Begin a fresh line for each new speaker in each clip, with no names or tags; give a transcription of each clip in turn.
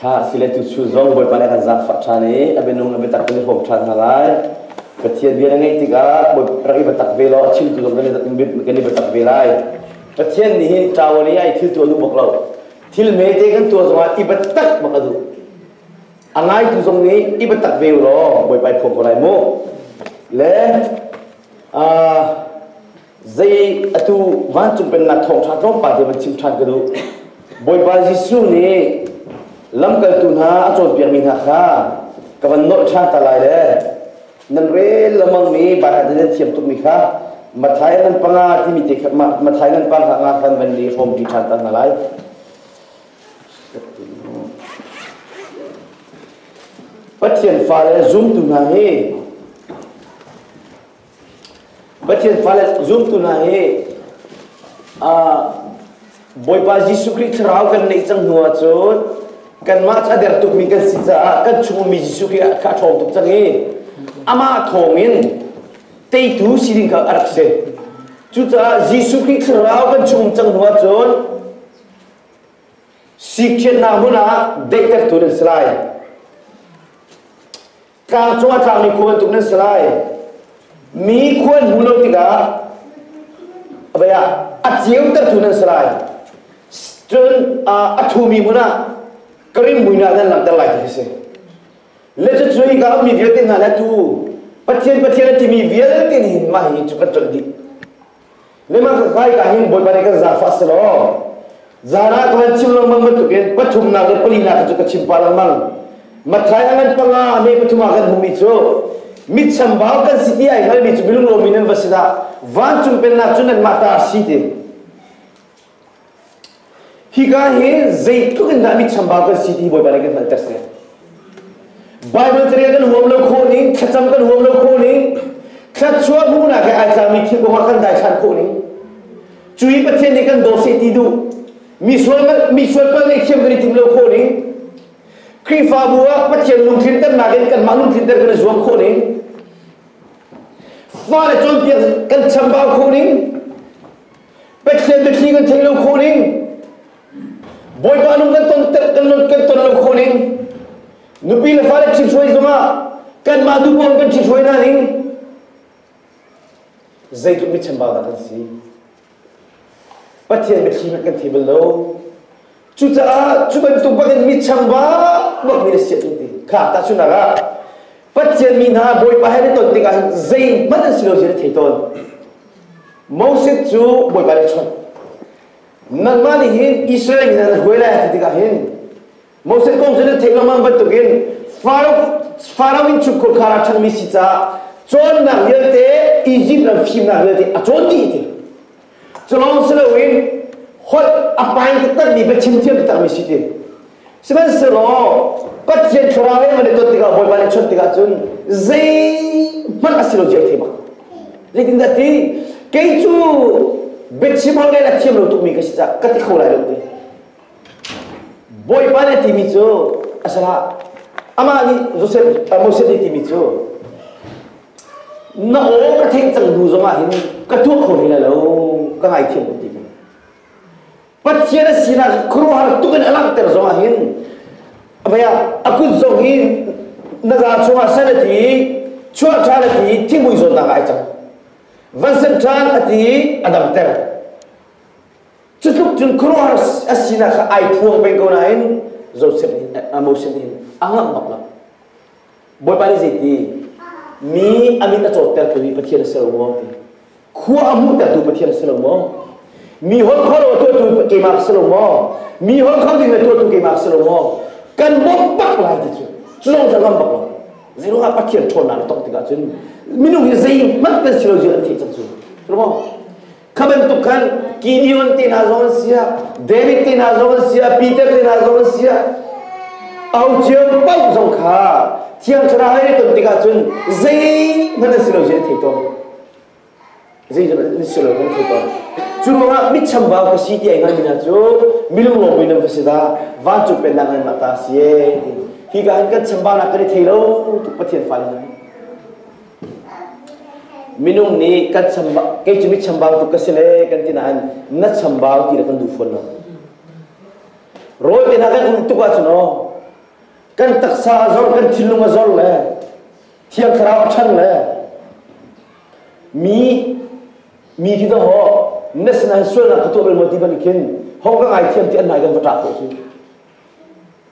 Kha a si le tu chun zong Bawipa nih a kan zaangfah ṭhan i a minung le biatak kan i hrawm ṭhan hna lai. Pathian bia na ngeih tikah rak i biatak ve law a chimtu zong kan i biatak ve lai. Pathian nih hi ṭawan i ai thil tuah duh bak lo. Thil mete kan tuah zongah i biatak bak a duh. A ngaitu zong nih i biatak ve u law Bawipa i phawm ko lai mu. Le uh, zei atu vancung pennak thawngṭha tlawmpal te van chim ṭhan ka duh Bawipa Jesuh nih lamkaltu hna a cawnpiakmi hna kha ka van nolh ṭhan ta lai le nan rel lamangmi Baibal nan thiam tukmi kha Mathai nan panga timi te kha Mathai nan panga nga khan van nih hrawmpi ṭhan ta hna lai Pathian fale zumtu hna hi Pathian fale zumtu hna hi Bawipa Jesuh Khrih thlarau kan neih cang hnu ah cun kanmah cu a der tukmi kan si caah kan chung ummi Jesuh Khrih kha a ṭhawng tuk cang i amah thawng in teitu si ding kha a rak si. Cucaah Jesuh Khrih thlarau kan chung um cang hnu ah cun sikhiannak hmun ah daihtertu nan si lai. Tlang cung ah tlangmi khua bantuk nan si lai. Mi khua an hmu lo tikah vei ah a ceutertu nan si lai. Cun a thumi hmun ah ka rim muin ah nan langhter lai ti khi si. Le cu cu hi ka ummi vialte hna le tu Pathian Pathian a timi vialte nih hin mah hi cu kan colh dih. Nimahmanhah hika hin Bawipa nih kan zaangfah si law zan ah ka van chim lengmang bantukin pathumnak le palinak cu ka chim pah lengmang Matthai a ngan panga me pathum ah kan hmumi cu mit chambau kan si ti ai hngalmi cu milunglomi nan va si dah vancung pennak cu nanmah ta si ti Hika hi zeitluk in dah mi chambau kan si ti Bawipa nih kan hngalter seh. Bible caria kan huam lo khawh ning, thlacam kan huam lo khawh ning, thlatchua hnu nak he ai tlangmi thil kongah kan dai than khawh ning. Cui Pathian nih kan daw seh ti duh. Mi sual mi sual pal nih thiam kan i tim lo khawh ning. Khrihfabu ah Pathian lungthin ternak in kan mah lungthin ter kan i zuam khawh ning. Fa le cawnpiak kan chambau khawh ning. Pathian biathli kan theih lo khawh ning Bawipa nung kan ton kan kan ton lo khawh ning nupi le fale ṭhit hruai zongah kanmah duh bang kan ṭhit hruai hna ning zeitluk mi chambau dah kan si Pathian biathli hmanh kan thei bal lo Cucaah cu bantuk bangin mi changvang mi na si a ti. Kha tahchunhnak ah Pathian mi hna Bawipa he na ton tikah hin zeihmanh an si lo zia na thei tawn. Moses cu Bawipa nih a chawnh. Nangmah nih hin Israel mi hna na hruai lai a ti tikah hin Moses kong cu na theih lengmang bantukin Pharaoh in chukkhur khar a ṭhangmi si caah cawnnak vialte Izipt ram fimnak vialte a cawn dih ti. Culawng si loin holh a pai taktakmi biachim thiam takmi si ti. Sihmanhsehlaw Pathian thlarau he man i ton tikah Bawipa nih chawnh tikah cun zeihmanh a si lo zia a thei Zeitindah ti kei cu biachim holh a thiam lo tukmi ka si cah ka ti kho lai lo ti. Bawipa nih a timi cu a salah amah nih Joseph Moses nih timi cu na aw ka theih cang bu zong ah hin ka tuah kho hlei lo ka ngaithiam ko ti mu pathian a sinak khuaruahar tuk in a langhter zong ah hin vaya a kut zong hi na za chungah san a ti chuah ṭhan a ti thingmui zawn nak ai cang van san ṭhan a ti a dang ter cu tluk cun khuaruahar a sinak kha ai thuang peng ko nain Joseph nih a Moses nih a ngak ngok lang Bawipa nih zei ti? Mi a mit a cawttertu mi Pathian a si lo maw? ti. Khua a hmuhtertu Pathian si lo maw? Mi holh kholo tuahtu keimah ka si lo maw? Mi holh kham ding le tuahtu keimah ka si lo maw? Kan bawmh bak lai ti cu cu zong zong bak lo. Zeiruang ah Pathian ṭhawnnak a tong tikah cun minung hi zeihmanh kan si lo zia an theih cang cu. Ruang Kha bantuk khan Gideon ti hna zong an si ah, David ti hna zong an si ah, Peter ti hna zong an si ah, aucio paoh zong kha thiang thlarau ai ton tikah cun zeihmanh an si lo zai thei tawn. Zeihmanh an si lo kan thei tawn. Cu ruangah mit chambau ka si ti ai ngai mina cu milung lo buin ka si ta, vancung pen nak ngai ma ta si e. Hi ka han kan chambau nak kan i thei lo tuk Pathian fa ngai. Minung nih kan chambau, kei cu mi chambau tuk ka si le kan ti nain na chambau ti le kan duh fawn lo. Rawi te hna kan ulh tuk ahcun aw, kan taksa a zor, kan thinlung a zor le thiang thlarau a ṭhan le mi mi khi to ho na sinain sualnak ka tuah bal maw ti ban khin hong ka ngai thiam ti an nai kan va ṭah khawh cu.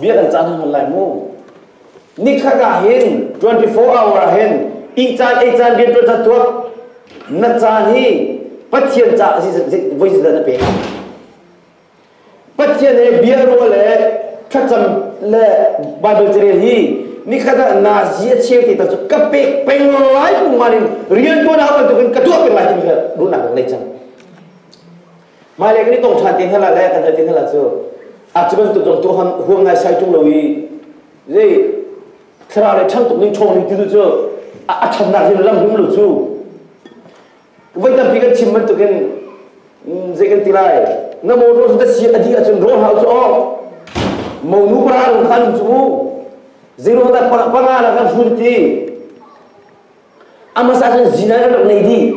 Mi kan cah hnawn lai mu. Nikhat ah hin 24 hour ah hin ihcaan eican rian tuan chan tuak na caan hi Pathian ca voi zedan na pe. Pathian he bia ruah le thlacam le Bible carel hi nikhat ah na si a cheu ti ta cu ka pek peng lai pung man in rian tuan ha bantukin ka tuah peng lai ti mi kha run nak lei cang. Mailei kan i tong ṭhan ti hna le kan al ti hna la cu a cu bantuk zong tu huam ngai sai ṭung lo i zei thlarau le chang tuk ning chong ning titu cu a channak hin lam hum lo cu voi tampi kan chim bantukin zei kan ti lai na motor cu si a dih ahcun rawl hau cu awk monu para rung khan cu u zeiro tak panga la kan hun ti a masa khan zinan an rak nei dih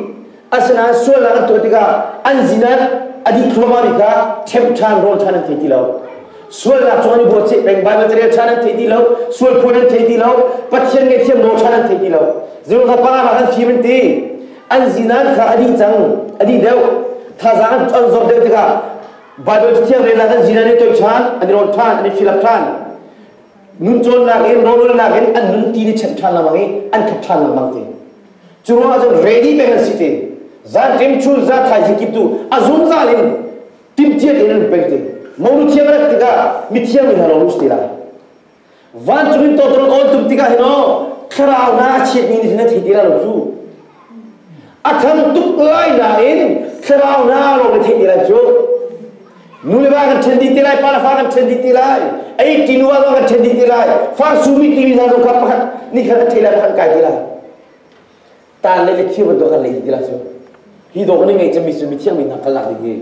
asinain sualnak an tuah tikah an zinan a dih thluahmah mi kha ṭhemh ṭhan rawl ṭhan an thei ti lo sualnak cung an i bawhceh peng bai material ṭhan an thei ti lo sual phuan an thei ti lo pathian ngaihthiam nawl ṭhan an thei ti lo zeihmanh kha pangah khan fim an ti an zinan kha a dih cang a dih deuh thazaang an zor deuh tikah Bible thiang rel nak an zinan i toih ṭhan an i rawl ṭhan an i filap ṭhan nun cawnnak in rawhralnak in an nun ti ni chanh ṭhan lengmang i an thap ṭhan lengmang te cu ruangah cun ready peng an si te zan ṭim chul za thaizing kip tu a zungzal in timtiat in an peng te moru thiam rat tikah mithiam in halo lus te la vancung in toton awl tum tikah hin o thlarau na a chiat mi nih na thei ti lo cu a thang tuk lai na in thlarau na ro na thei ti lai cu Nu le va kan ṭhen dih ti lai, pa le fa kan ṭhen dih ti lai, ei ṭi nu zong kan ṭhen dih ti lai, fa sumi timi hna zong kha pakhat, ni khat a ṭhei lai, pakhat kai ti lai. Taan le le khir bantuk kan lei ti lai cu. Hi dawg ni ngei cami sumi thiang mi hna kal lak ding hi,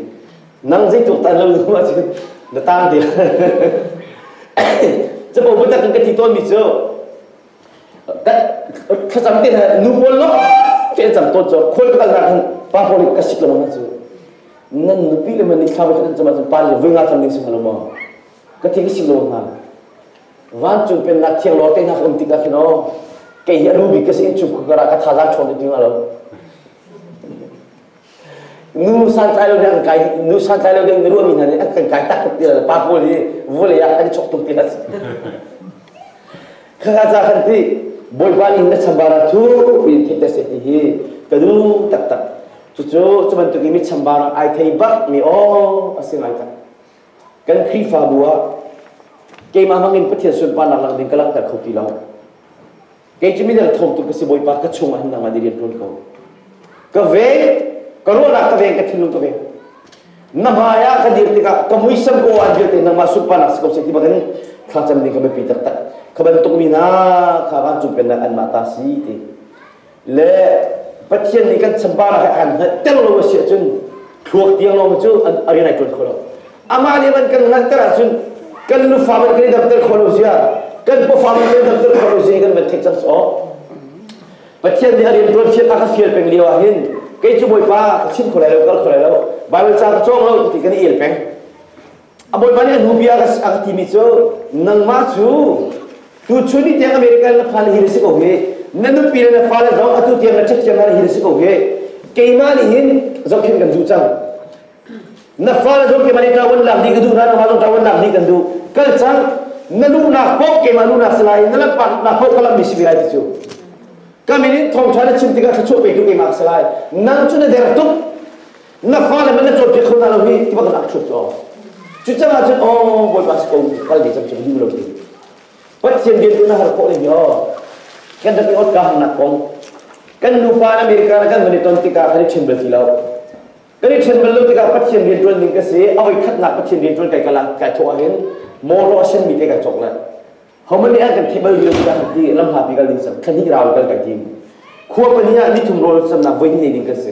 nang zeitluk taan lo ding ma si, na taan te. Capo biatak in ka ti tawnmi cu, thlacam te na nu pawl lo te an cam tawn cu khawi ka kalnak hin pa pawl ka si ko lo cu nan nupi le man ni thla kan cam cu pa le voi nga tam ding si lo ma ka thi si lo na van cung pen na thiang lo te na kom ti ka khin o ke hi anu bi ka si in chu ka ra ka tha zan chon ni ti nga lo nu santlai lo ding an kai nu santlai lo ding mi ruahmi hna nih an kan kai tak tuk ti le pa pawl hi vawlei ah kan i chok tuk ti hlas kha ca kan ti bawipa nih na chambara cu in theih te se ti hi ka duh taktak cucu cu bantuk in mi chambara ai thei bak mi aw a si ngai tak kan khrihfabu ah keimah hmangin pathian sunparnak lang ding ka langhter kho ti lo kei cu midang thawmtu ka si Bawipa ka chungah nang an i rian ṭuan ko ka veng ka ruahnak ka veng ka thinlung ka veng na hmai ah ka dir tikah ka muisam ko aan vialte nangmah sunparnak si ko seh ti bangin thlacam ning ka biapi taktak ka bantukmi na kha van cumpennak anmah ta si ti le Pathian nih kan chambar ah an hngalh ter lo a si ahcun thluak tiang lawng cu a rian ai ṭuan kho lo amah nih an kan langhter ahcun kan nufa man kan i damter kho lo sia kan pafa man kan i damter kho lo sia kan van thek cang sawh pathian nih a rian tuan fian a ka fial peng lio ah hin kei cu bawipa ka chim kho lai lo kal kho lai lo baibal ca ka cawng lo ti kan i el peng a bawipa nih a hnu bia a ka timi cu nangmah cu tu chun ni tiang america na fa na hi na si ko hi na nupi le na fale zong atu tiang na check tiang na hi na si ko hi keimah nih hin zohkhen kan zu cang na fale zong keimah nih ṭa lak dih ka duh na nangmah zong ṭa lak dih kan duh kal cang na luhnak paoh keimah luhnak si lai na lanhpaknak paoh ka lammi si ve lai ti cu ka min in thawngṭha na chim tikah thluachuah petu keimah si lai nang cu na der tuk na fale man na cawnpiak kho na lo hi ti bak nak thut cu cu cangah cun o bawipa si ko kal dih cam cu duh lo ti pathian bian na har ko le yo kan da ke ot ka hang nak kong kan nupa in America na kan van i ton tikah kan i chen bel ti lo Kan i ṭhen bal lo tikah Pathian rianṭuan ding ka si, a voikhatnak Pathian rianṭuan kai kal ah kai thawh ahhin mawṭaw a senmi te kai cawk le homani ah kan theih bal rih lo tikah kan ti, lamhlapi kal ding sam, thlahnih rau in kal kan tim. Khua pahnih ah nithum rawl samnak voi hnih ding kan si.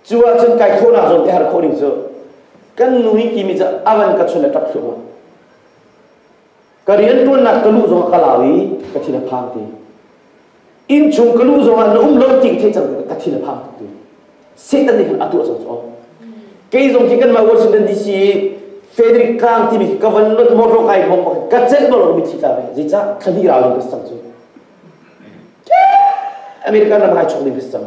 Cu ahcun kai thawhnak zawn te har khawh ding cu kan nu hi kimi cu avan ka chun le ṭap thluahmah. ka rianṭuannak ka luh zongah ka lau i ka thin a phang ti innchung ka luh zongah na um lo ti ka theih cang ka thin a phang ti Satan nih a tuah cang cu kei zong hi kanmah Washington DC Frederick Kang timi ka van lot motor kai hom ka cel balo mi thi ta ve zeicah thani rau ning ka sang cu American ram hai chok ning ka sang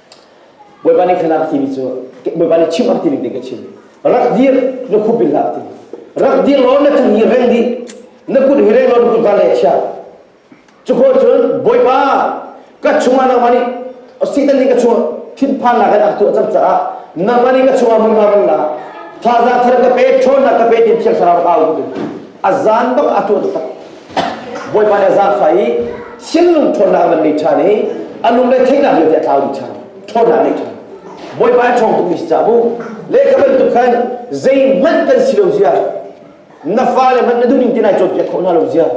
Bawipa nih khanak timi cu Bawipa nih chim ak tining te ka chim rak dir na khup bil hak ti rak dir law na cung i reng dih na kut hi reng law na ka le chia cu ko cun Bawipa ka chungah nangmah nih Satan nih ka chungah thinphan nak in a tuah cang caah nangmah nih ka chungah hmunhma van la thaza thar ka pe ṭhawn na ka pe tin phial thlarau ka au a zan bak a tuah tak Bawipa nih a zaangfah i sinlung ṭhawnnak nan ngei ṭhan i a lung le theihnak vialte a tlau dih ṭhan ṭhawnnak ngei ṭhan Bawipa a ṭhawng tungmi caah bu lehkha bantuk khan zeihmanh kan si lo zia na fale hmanh na duhning te nai cawnpiak khawh hna lo zia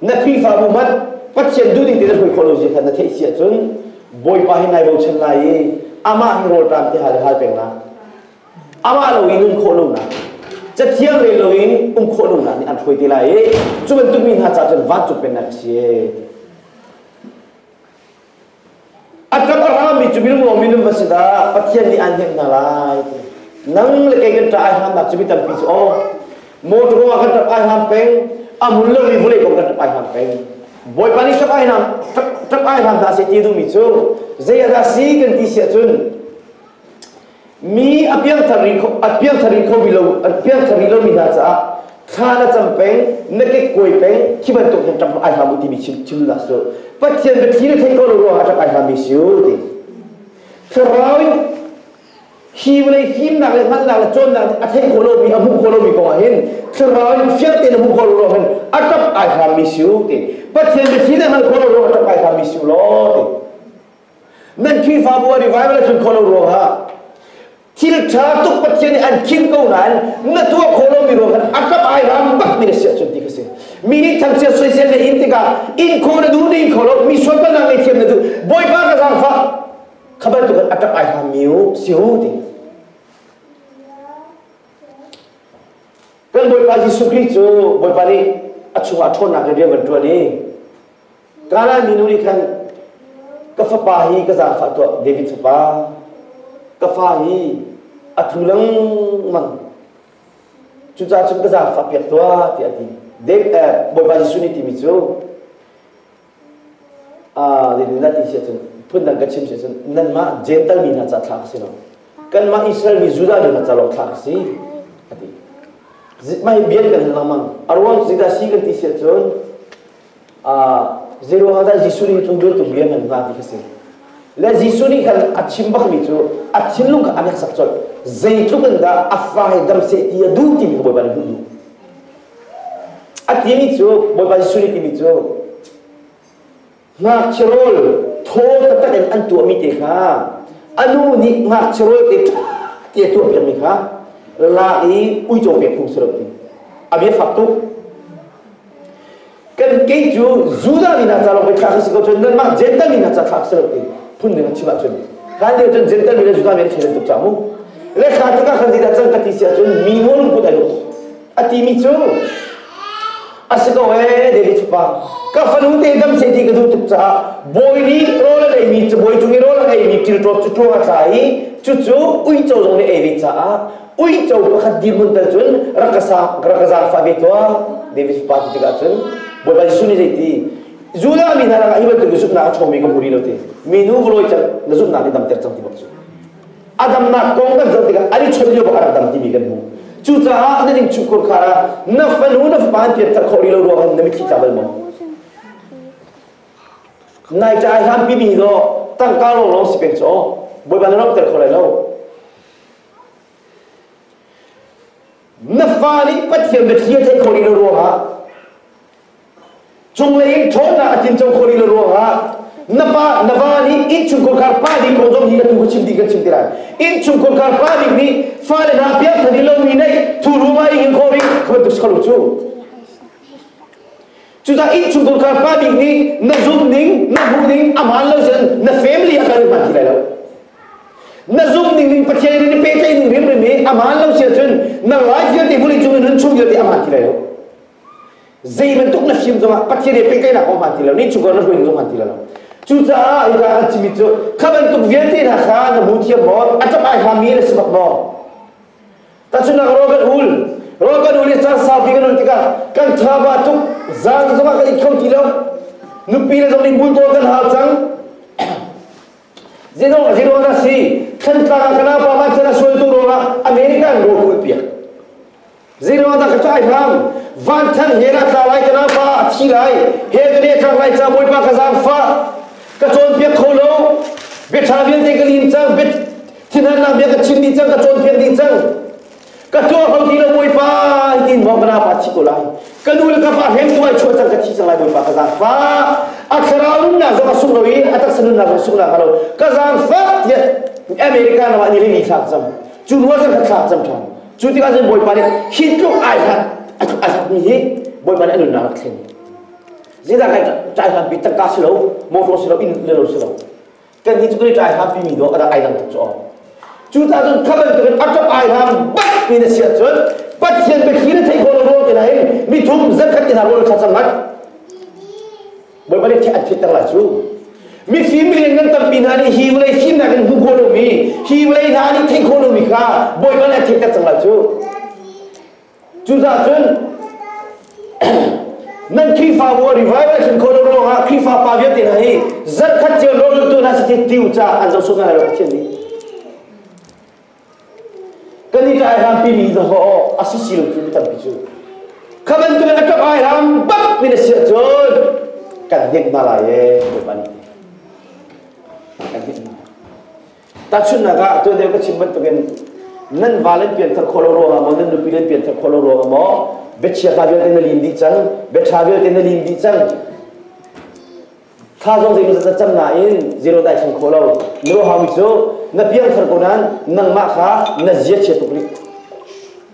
na Khrihfabu hmanh Pathian duhning te na hruai khawh lo zia kha na theih si ahcun Bawipa hi nai bochan lai i amah hi rawlṭam te hal le hal pengnak amah loin um khawh lonak cathiang rel loin um khawh lonak nih an hruai te lai i cu bantuk mi hna caah cun vancung pennak a si a ṭap a rami cu minung maw minung va si dah pathian nih aan hnemh hna lai nang le kei kan ṭah ai hramnak cu mi tampi cu aw motor kong ah kan ṭap ai hram peng a mun lomi vawlei kong kan ṭap ai hram peng bawipa nih ṭap ai hram ṭap ai hram hna se ti duhmi cu zei ah dah si kan ti si ahcun mi a piangthar rih kho a piangthar rih kho lo a piangthar rih lomi hna caah thla na cam peng na kekkuai peng khi bantuk hin ṭang ai hlam u timi chim chim na su pathian bia thi na thei ko lo ruah ṭang ai hlam mi si u ti thlarau in him le himnak le hngalhnak le cawnnak nih a thei kho lomi a hmuh kho lomi kongah hin thlarau in fiang tein a hmuh kho lo ruah hin a ṭap ai hlam mi si u ti pathian bia thi na hngal kho lo ruah ṭang ai hlam mi si u law ti Nan Khrihfabu ah revival a tlun khawh lo ruangah thilṭha tuk Pathian nih an khim ko nain na tuah khawh lomi ruangah a kap ai ram bakmi na si ahcun ti ka si. Mi nih thangchia soisel na in tikah in kho na duh na in kho lo mi sualpalnak ngei thiam na duh Bawipa ka zaangfah kha bantuk a ṭap ai hlammi si ho ti. Kan Bawipa Jesuh Khrih cu Bawipa nih a chungah ṭhawnnak in rian van ṭuan i Ka lai minu nih khan ka fapa hi ka zaangfah tuah David fapa ka fa hi a tlu lengmang cucaah ka zaangfah piak tuah tiah a ti David eh, Bawipa Jesuh nih timi cu zeitindah ti si cun phun dang ka chim si cun nanmah Gental mi hna ca thlak a si lo kanmah Israel mi Judah mi hna ca lawng thlak a si a ti mah hi bian kan hal lengmang a ruang cu zeidah si kan ti si cun Zeiro ah dah Jesuh nih cun zultu bia ngan hna ti kha si. Le Jesuh nih khan a chim bakmi cu a thinlung kha a nek sak colh. Zeitluk in dah a fai dam seh ti a duh timi kha Bawipa nih hmuh A timi cu, Bawipa Jesuh nih timi cu, ngakchia rawl thaw taktak in an tuahmi te kha a nu nih ngakchia rawl te te a tuah piakmi kha lak i uico pek phung si lo ti. A bia fak tuk. Kan kei cu Judah mi hna ca lawng ka si ko cun nanmah Jentail mi hna ca kha si lo ti phun ding a chim ahcun hlan lio cun Jentail mi le Judah mi an thei tuk ca mu le kha tikah kan zida cang ka ti si ahcun minu lungput ai lo a timi cu a si ko ee David pa ka fanu te dam se ti ka duh tuk caah bawi nih rawl a ei mi cabawi cung i rawl a ei mi til ṭawt cu ṭuang a tla i cucu uico zong nih ei ve caah uico pakhat dirmun tal cun rak ka sa rak ka zaangfa ve tuah David pa ti tikah cun Bawipa Jesuh nih zei ti Judah mi hna rangah hi bantuk na zumhnak a chawmi ka hmu rih lo ti minu ka lawi cang na zumhnak nih damter cang ti bak cu a damnak kong kan zoh tikah an i chawnh lio bak a rak dam timi kan hmu cucaah na ding chukkur khar ah na fanu na fapa an piatter khawh rih lo ruangah na mitthli tla bal maw nai ca ai hlampi mi zaw tangka lo lo si peng caw bawipa na romter kho lai lo Na fa nih Pathian biathli a theih khawh rih lo ruangah cunglei in ṭhawnnak a tlinco khawh rih lo ruangah na pa na va nih innchungkhar pa pa ding kong zong hi ka tu ka chim dih kan chim ti lai innchungkhar pa pa ding nih fale hna piak than i lomi neih thu ruangah i hin khawh rih ka bantuk si kho lo cu Cudah innchungkhar kha pa bik nih na zumh ning, na hmuh ning a hmaan lo cun na family ah kan hman ti lai lo. Na zumh ning ning Pathian nih pehtlaih ning hrimhrim hi a hmaan lo sia cun na life vialte vulei cung in nun chung vialte a hmaan ti lai lo. Zei bantuk na fim zongah Pathian he pehtlaihnak kong hmaan ti lo, innchungkhar na hruai zong hmaan ti lo. Cucaah i an cimi cu kha bantuk vialte hna kha na hmu thiam maw? A ṭap ai hngami na si bak maw? Tachunak ro kan ul ro kan ul i caan saupi kan ul tikah kan tha ba tuk zan zongah kan it kho ti lo nupi le zong nih bultawl kan hau cang zinong a ziruang na si thantlang ah kana pa man cana sualtu ruangah American ro kul piak ziruang da ka tlai hram van than he na tla lai kana pa a thi lai he ka ne tlak lai cha boi pa ka zam fa ka chon piak kho lo bia tha vialte ka lim cang bit Thinhannak bia ka chim dih cang, ka cawnpiak dih cang. Ka tuaham ti lo Bawipa tiin mawng ka napa thi ko lai. Ka nu le ka pa heng tuai chuah cang ka thi cang lai Bawipa ka zaangfa. A thlarau nunnak zong a sung lo i a taksa nunnak zong sung nak a lo. Ka zaangfa tiah America ram ah ni rili thlak cang. Cu nual cang ka thlak cang ṭhan. Cu tikah cun Bawipa nih hi tluk ai hlat a hlatmi hi Bawipa nih a nunnak a thlen. Zeidah kai cai hlan pi tangka si lo, motor si lo, inn le lo si lo. kannih cu kan i tlai hngami mi dawh a rak ai lang tuk cu aw cucaah cun kha bantukin a ṭap ai hlam bat pi na si ahcun pathian biathli na theih khawh lo rol te nain mi thum zakhat te hna rol kha cang ngat bawipa nih thih an thitter lai cu mifim rian nan tampi hna nih hi vawlei fimnak in hmu khawh lomi hi vawlei hna nih theih khawh lomi kha bawipa nih a theihter cang lai cu Cucaah cun nan Khrihfabu a revivalation khawh lo ruangah Khrihfa pa vialte hna hi zan khat cio lawltu hna si ti tiu ca an zohsuh ngai lo Pathian nih. Kan i tlai hrampi mi zahawh a si si lo cu mi tampi cu. Kha bantuk in a ṭap ai hram bak min a si ahcun kan hnek hna lai ee, Bawipa nih. Kan hnek hna lai. Tahchunhnak ah, tuan deu ka chim bantukin nan va len pian thar khawh lo ruangah maw nan nupi len pian thar khawh lo ruangah maw biachia hla vialte na lim dih cang biaṭha vialte na lim dih cang tha zong zei maw cam nain zero dai thang kho lo nu hang cu na piang thar ko nan nangmah kha na zia chia tuk rih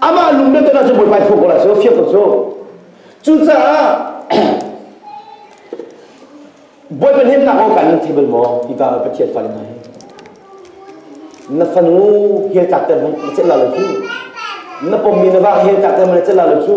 Amah lung le dana cu Bawipa i thuam ko lai sawh fiang ko sawh. Cucaah Bawipa hnemnak kong kan thei bal maw? I va Pathian fale hna hi. Na fanu hel tak ter na celh la lo cu. Na pommi na va hel tak ter ma na celh la lo cu.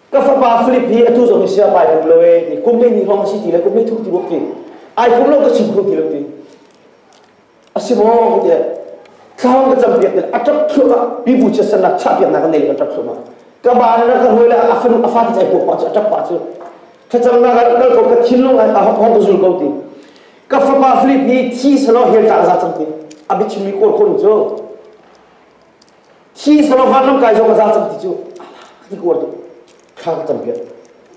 ka fapa Philip hi atu zong hi sia pai kum lo e ni kum le ni hong si ti le kum le thu ti bok ti ai kum lo ka chim khung ti lo ti asi mo ku te thlang ka cham piak a tap thlu ka pi bu che san na cha piak na ka nei ka tap thlu ma ka ba na ka hoi la afun afat chai po pa chu tap pa chu thacham na ka kal ko ka thin lung a hok hok zul ko ti ka fapa Philip ni thi salo hel ta za chang ti abit chimi kol khon chu Hi solo hlan ram kai zong a za cang ti cu ti kuar tu kha ka tam piat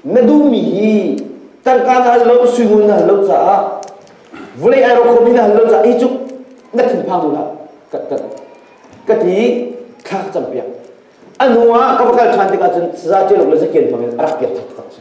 na duhmi hi tangka na hal lo suingun na hal lo caah vulei aero khomi na hal lo caah hi cu na thinphang mu la ka ka ka ti kha ka cam piak a hnu ah ka va kal ṭhan tikah cun saza celuk le zakian hmangin a rak piak thak tak si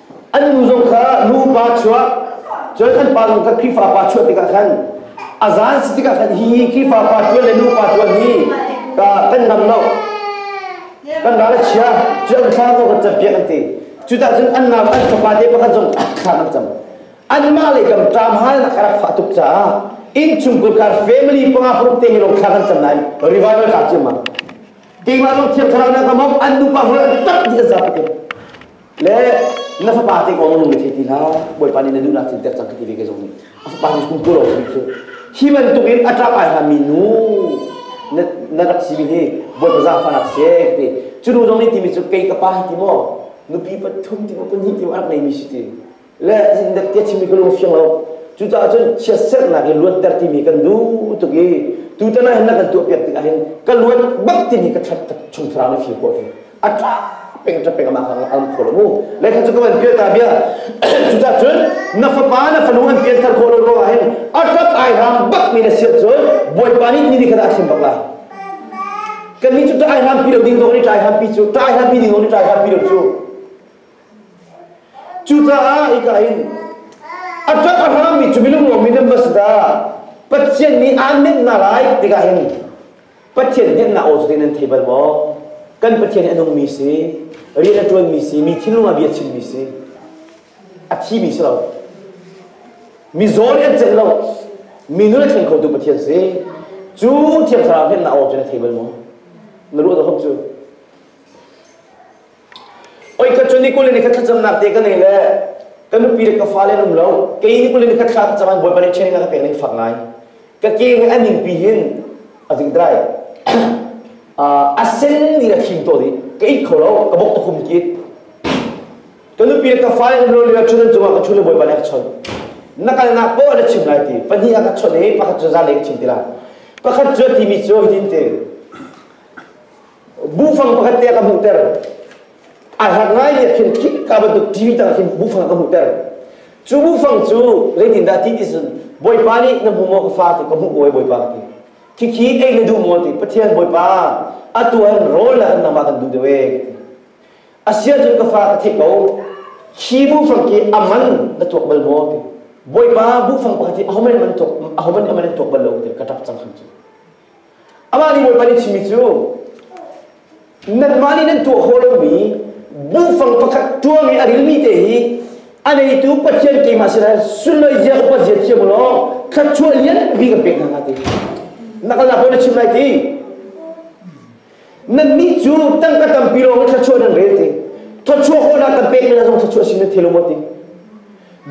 an nu zong kha nupa chuah cun an pa zong kha Khrihfa pa chuah tikah khan a zan si tikah khan hi Khrihfa pa tuan le nupa tuan hi ka kan nam lo kan ral a chia cu an thla zong kan campiak an ti cudah cun an nau an fapa te pakhat zong thla an cam anmah lei kam ṭam hal nak a rak fah tuk caah innchungkhur kar family panga paruk te hi lawng thla kan cam nain revival ka ciam ma keimah lawng thiang thlarau na kam hop an nupa hul an tak ni a zap ke le na fapa te kong na thei ti hna bawipa nih na duhnak cin ter cang ti ve ke zong nih a fapa cu kum lo mi cu hi bantuk in a ṭap ai hlan mi nu na na rak si mi hi bawipa zafa nak se ti cu nu zong nih timi cu kei ka pa ti maw nupi pathum ti maw pahnih ti maw a rak nei mi si ti le in dek tia chimi ka lung fiang lo cucaah cun chiatserhnak i luatter timi kan duh tuk i tutan ah hin na kan tuah piak tik ahhin ka luat bak timi ka that chung thlarau ni fir khawh a tha peng ta peng ma kha am kho lo mu le kha chu ka van pia ta bia cucaah cun na fapa na fanu an pian thar khawh lo ruang ahhin a tat ai ram bak mi na siat cun bawipa nih ni kha a thim bak la kan ni cu tai ham pi lo ding dong ni tai ham pi cu tai ham pi ding dong ni tai ham pi lo cu Cucaah hika in a ṭap a hrangmi cu milungruangmi nan va si dah Pathian nih aan minh hna lai tikah hin Pathian hneknak aw cu te nan thei bal maw kan Pathian hi a nungmi si rian a ṭuanmi si mi thinlung ah bia a chimmi si a thimi si lo mizaw nih an cenh lo mi nun a thleng khotu Pathian si cu thiang thlarau hneknak aw cu na thei bal maw na ruah zahawm cu Oi kha cu ni kul in khat thlacamnak te ka nei le ka nupi le ka fale an um lo kei ni kul in khat thla thlacam Bawipa nih training a ka pek ning fak ngai ka ke nge a ning pi hin a ding drai a sen ni a thim to dih ka it kho lo ka bok tukhum kit ka nupi le ka fale an um lo lila cun an cungah ka chun le Bawipa nih a ka chon nakalnak po na chim lai ti pahnih a ka chon i pakhat cu za le ka chim tila pakhat cu a timi cu hitin te Bufang pakhat te ka hmuhter. A hlat ngai nih khin khika bantuk TV tang khin bufang ka hmuhter. Cu bufang cu zeitin dah ti ti cun Bawipa nih na hmu maw ka fa ti ka hmuh ko Bawipa ka ti. Khikhi ei na duh maw ti Pathian Bawipa a tuan rawl le an nangmah kan duh deuh ee ka ti. A sia cun ka fa ka theih ko khi bufang khi a man na tuak bal maw ti Bawipa bufang pakhat hi ahoman man tuak ahoman aman tuak bal lo ti ka ṭap cang kham cu. Amah nih Bawipa nih chimmi cu nanmah nih nan tuah khawh lomi buhfang pakhat ṭuang i a rilmi te hi a neitu Pathian keimah sirah sulai zia upat zia thiam u law thluachuah lian bik kan pek hna nga ti na kalnak pawl na chim lai ti Nannih cu tangka tampi lawng in thluachuah nan rel ti. Thluachuah khawhnak kan pek ning zong thluachuah si na thil maw ti.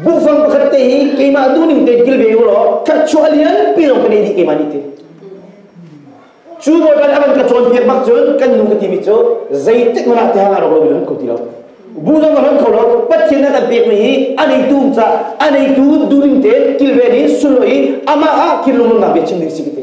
Bukfang pakhat te hi keimah duhning tein kilve ko law thluachuah lianpi lawng ka nei dih keimah nih ti. Cu bawipa nih a van ka cawnpiak bak cun kan nu ka timi cu zeitik man ah te hang arok lo in ko ti lo. Bu zong a hlan kho lo Pathian nan pekmi hi a neitu ca a neitu duhning tein kilven in sullo in amah ah thil lungdong bia chim ding si ka ti.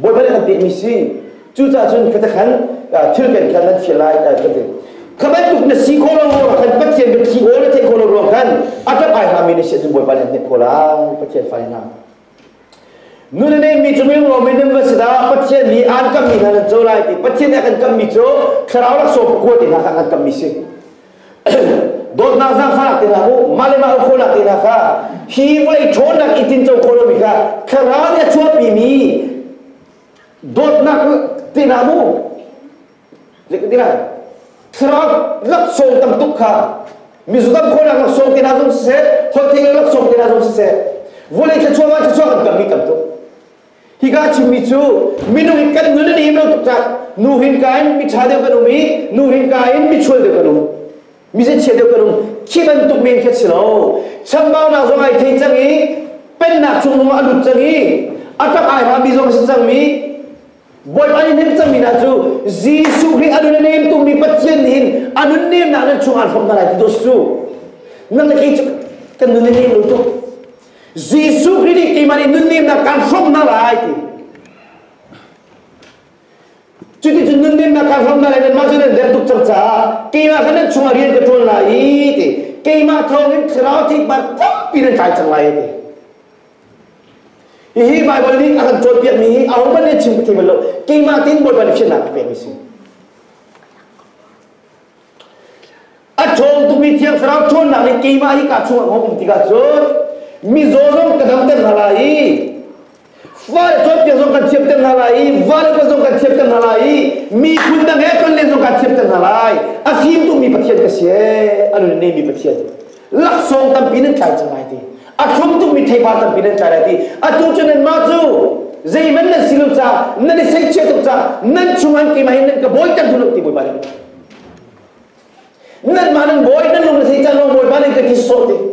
Bawi bel kan pehmi si. Cucah cun ka khan thil kan khan nan fial lai ka ti. Kha bantuk na si ko lo ruang khan Pathian kan si awl na theih ko lo ruang khan a tap ai hami na si Bawipa nih hnek ko lai Pathian fai hna. Nun na neihmi cu mil ngawmi nan va si dah Pathian nih an kammi hna nan co lai ti Pathian nih a kan kammi cu thlarau laksawng pakua te hna kha an kammi si. dawtnak zang kha te hna mu mah le mah khawla te hna kha hi vai ṭhawnnak i tin co khawh lomi kha thlarau nih a chuahpi mi dawtnak te hna mu zekin tina thlarau laksawng tam tuk kha mizu tam khawnak laksawng te hna zong siseh holthei laksawng te hna zong siseh vawlei thluachuah ma thluachuah kan kam mi tam tuk Hika chimmi cu minung in kan nun in im lo tuk cang. Nu hinka in miṭha deuh kan um i nu hinka in michual deuh kan um. Mizichia deuh kan um. Khi bantuk men khi a si lo. Chambaunak zong ai thei cang i pennak chungum ah a lut cang i a tak ai hrammi zong a si cangmi Bawipa nih nem cangmi hna cu Jesuh Khrih a nun a nem tungmi Pathian nih hin a nun nemnak nan chungah an hrawm hna lai ti dawt cu. Nang le kei cu kan nun in nem lo tuk. Jesuh Khrih nih keiman in nunnemnak kan hrawm hna lai ti. Cuticun nunnemnak kan hrawm hna lai nanmah cu nan der tuk cang caah keimah kha nan chungah rian ka ṭuan lai i ti. Keimah thawngin thlarau thikman tampi nan kai cang lai ti. Hihi Baibal nih a kan cawnpiakmi hi ahohmanh nih chim thiam lo. Keimah tin Bawipa nih fiannak a pek mi si. A ṭhawng tukmi thiang thlarau ṭhawnnak nih keimah hi kaa chungah a um tikah cun mizaw zong ka damter hna lai i vaal cawnpiak zong kan thiamter hna lai i vaal upat zong kan thiamter hna lai i miphun dang he tonlen zong kan thiamter hna lai a fim tukmi pathian ka si ee a nun nehmi pathian laksawng tampi nan tlai cang lai ti a thlum tukmi theipar tampi nan tlai lai ti atu cu nanmah cu zeihman nan si lo ca nan i seihchiah tuk ca nan chung an keimah in nan ka bawiter hnu lo ti bawipa nih Nanmah nan bawi nan lung zei can lawng Bawipa nih kan thi sawh ding.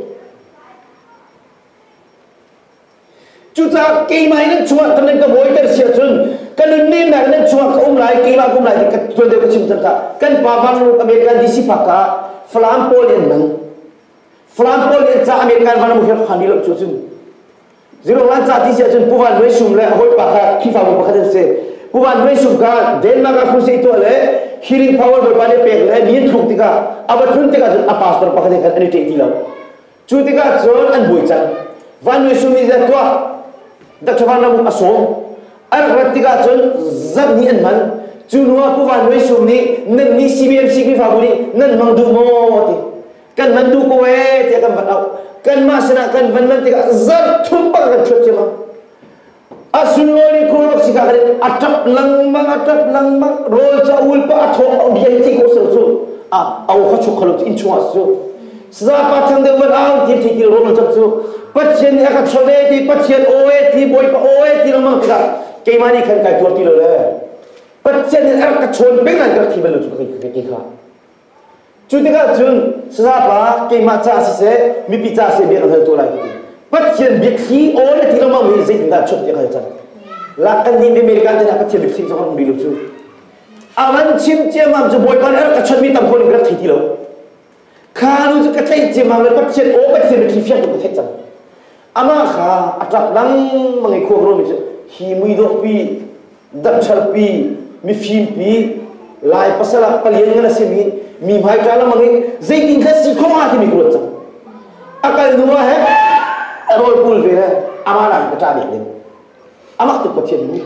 Cucaah keimah nan chungah kan nan ka bawiter si ahcun ka nunnemnak nan chungah ka um lai keimah ka um lai ti ka tuan deuh ka chim cang ka kan pa vanglung American DC phak ka Falam pawl in nang Falam pawl in ca American vanglung hi khani lo cu cun Zirong Lansa ti si ahcun Puvan Nuai Sum le a hawipa kha Khrihfabu pakhat an si. Puvan Nuai Sum kha Denmark ah crusade tuah le healing power Bawipa nih pek le mi an thluk tikah a va tlun tikah cun a pastor pakhat he khan an i ṭeh ti lo. Cu tikah cun an buai cang. Van Nuai Sum nih zat tuah Dr. Van Ramuk a sawm. An rat tikah cun zat nih an hman. Cu hnuah Puvan Nuai Sum nih nan nih CBMC Khrihfabu nih nan mang duh maw ti. kan van duh ko ee tiah kan van auh kanmah sinah kan van lan tikah zarh thum pang kan chuat ciammam a sunlawi khur rok sika kare a tap lengmang a tap lengmang rawl ca ul pa a thawk au diai ti ko sel cu a au kha chuk khalo in chungah su saza pa thang deuh van au ti thi kil rom chak cu pathian nih a ka chawve ti pathian oe ti boi pa oe ti lamang tikah keimani khan kai tuar ti lo le pathian nih a ka chawn pengan ka thi belu chu ka kai kha Cu tikah cun Sanapa keimah caah siseh mipi caah siseh bia ka hal tu lai ka ti. Pathian biathli aw le ti lengmang hi zeitindah chuah ti ka hal cang. Lak kan nih America te ah Pathian biathli zong an um rih lo cu. A van chim ciammam cu Bawipa nih a rak ka chonhmi tam phun in ka rak thei ti lo. Kha nu cu ka theih ciammam le Pathian aw Pathian biathli fiang tu ka theih cang. Amah kha a ṭap lengmang i khuakruami cu hi muidawhpi, damchalpi, mifimpi, Lai pasal ah palian ngan a simi, mi hmaiṭa lengmang i zeitin kha si khawh hnga timi ka ruat cang. A kal hnuah he a rawl pul ve le amah nakin ka ṭah dih ding. Amah tuk Pathian nih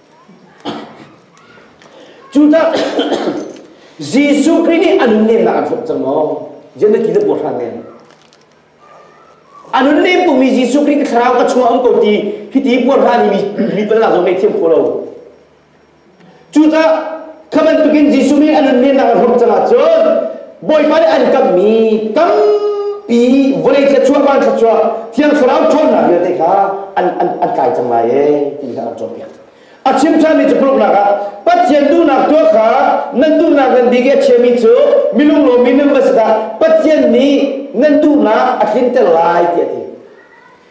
Cucah Jesuh Khrih nih a nunnem ah an hlawh cang maw? Jannati na buar hran men. A nunnem tungmi Jesuh Khrih ka thlarau ka chungah a um ko ti hiti buar hran mi mi pala zong ngei thiam khawh lo. Cucah Kha bantukin Jesuh nih a nunnemnak a hrawm cangah cun Bawipa nih an kamhmi tampi vawlei thluachuah van thluachuah thiang thlarau ṭhawnnak vialte kha an an an kai cang lai e ti kha an cawnpiak. A chim ṭhanmi cu paruknak ah Pathian duhnak tuah kha nan duhnak nan bik i a chiami cu milunglawmi nan va si dah Pathian nih nan duhnak a tlinter lai ti a ti.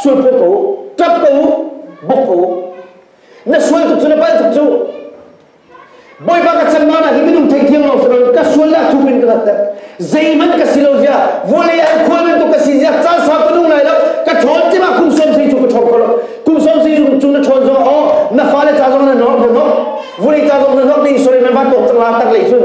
Sualphawt ko, ṭap ko, bawk ko. Na sual tuk cu na palh tuk cu. Bawipa ka chanmah na hi minung theithiang lo sirang ka sual lah thuk in ka lattek. Zeihmanh ka si lo zia, vawlei ah khual bantuk ka si zia, caan sau ka nung lai lo. Ka ṭhawn cimah kum sawm si cu ka ṭhawn ko lo. Kum sawm si cu na ṭhawn zong aw, na fale ca zong na nok, na nok. Vawlei ca zong na nok, di sori man va tok cang la tak lei cun.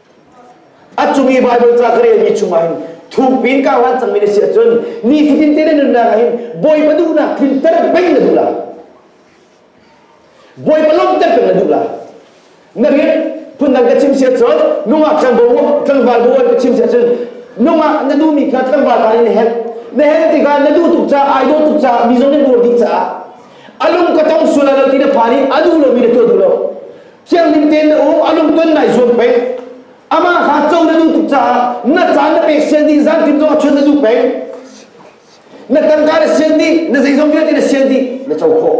A cung i Baibal ca ka relmi chungah hin thuk piin ka van cangmi na si ahcun nifatin te na nunnak ah hin Bawipa duhnak tlinter peng na duh la. Bawipa lawmhter peng na duh la. Na rian phundang ka chim si ahcun nungak tlangval tlangval bawi ka chim si ahcun nungak na duhmi kha tlangval ta in na hen na hen tikah na duh tuk caah ai dawt tuk caah mi zong na buar dih caah a lung ka tong sual lo ti na phan i a duh lomi na tuah duh lo Siangning tein na u, a lungton nai zuam peng. Amah kha co na duh tuk caah na caan na pek sian dih zan tim zong ah chun na duh peng. Na tangka na sian dih, na zeizong vialte na sian dih, na co khawh.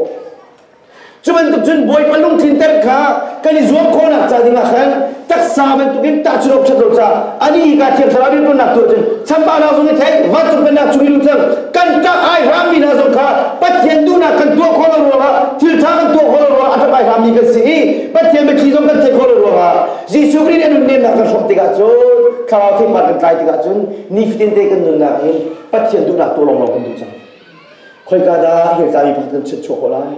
Cu bantuk cun Bawipa lungthin ter kha kan i zuam khawhnak ca dingah khan taksa bantukin tahchunh awk ṭhat lo ca ani ka thiang thlarau biapunnak tuah cun chanpahnak zong i thei vancung pennak chung i lut cang kan kah ai hrammi hna zong kha Pathian duhnak kan tuah khawh lo ruangah thiltha kan tuah khawh lo ruangah a ṭap ai hrammi kan si i Pathian biathli zong kan theih khawh lo ruangah Jesuh Khrih nih a nunnemnak kan hrawh tikah cun thlarau theipar kan tlai tikah cun nifatinte kan nunnak in Pathian duhnak tu lawnglawng kan duh cang khoika dah hirtlami pakhat kan chuah khawh lai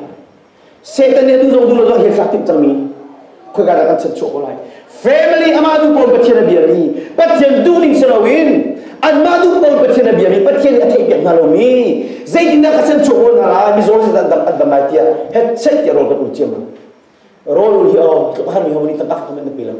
Satan nih atu zong duh lo zong a hel timh cangmi khoika dah kan chan chuah ko lai family amah tu pawl Pathian a biami Pathian duhning si loin anmah tu pawl Pathian a biami Pathian nih a theih peng hna lomi zeitindah ka chan chuah ko hna lai mizaw nih an dam an dam lai tiah headset tiah rawl kan ul ciammam rawl ul hi aw har mi ho nih kan ak kan in pe lang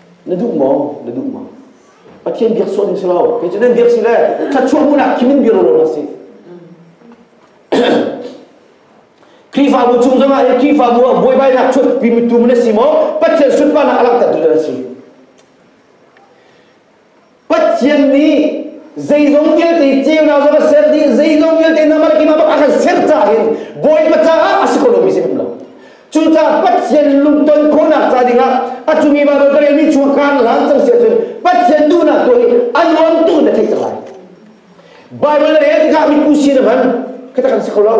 Na duh maw? Na duh maw? Pathian biak sual ding si lo. Kei cu nan biak si le thluachuah hmuhnak thim in bia lawlaw na si. Khrihfabu cung zongah hi Khrihfabu ah buaibainak chuatpi mitu na si maw? Pathian sunparnak a langhtertu na si. Pathian nih zeizong vialte ceunak zong a ser dih zeizong vialte namar kim abak a kan ser ca hin bawipa caah a si ko lomi si hrim lo cucaah Pathian lungton khawhnak ca dingah a cumi ba dawt rel mi chung kan lan cang sia cun Pathian duhnak tu hi an on tu na theih cang lai Bible rel tikah mi pu si na hman kita kan si kho lo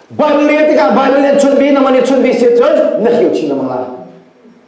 Bible rel tikah Bible len chun ve naman ne chun ve sia cun na hio chin lamang la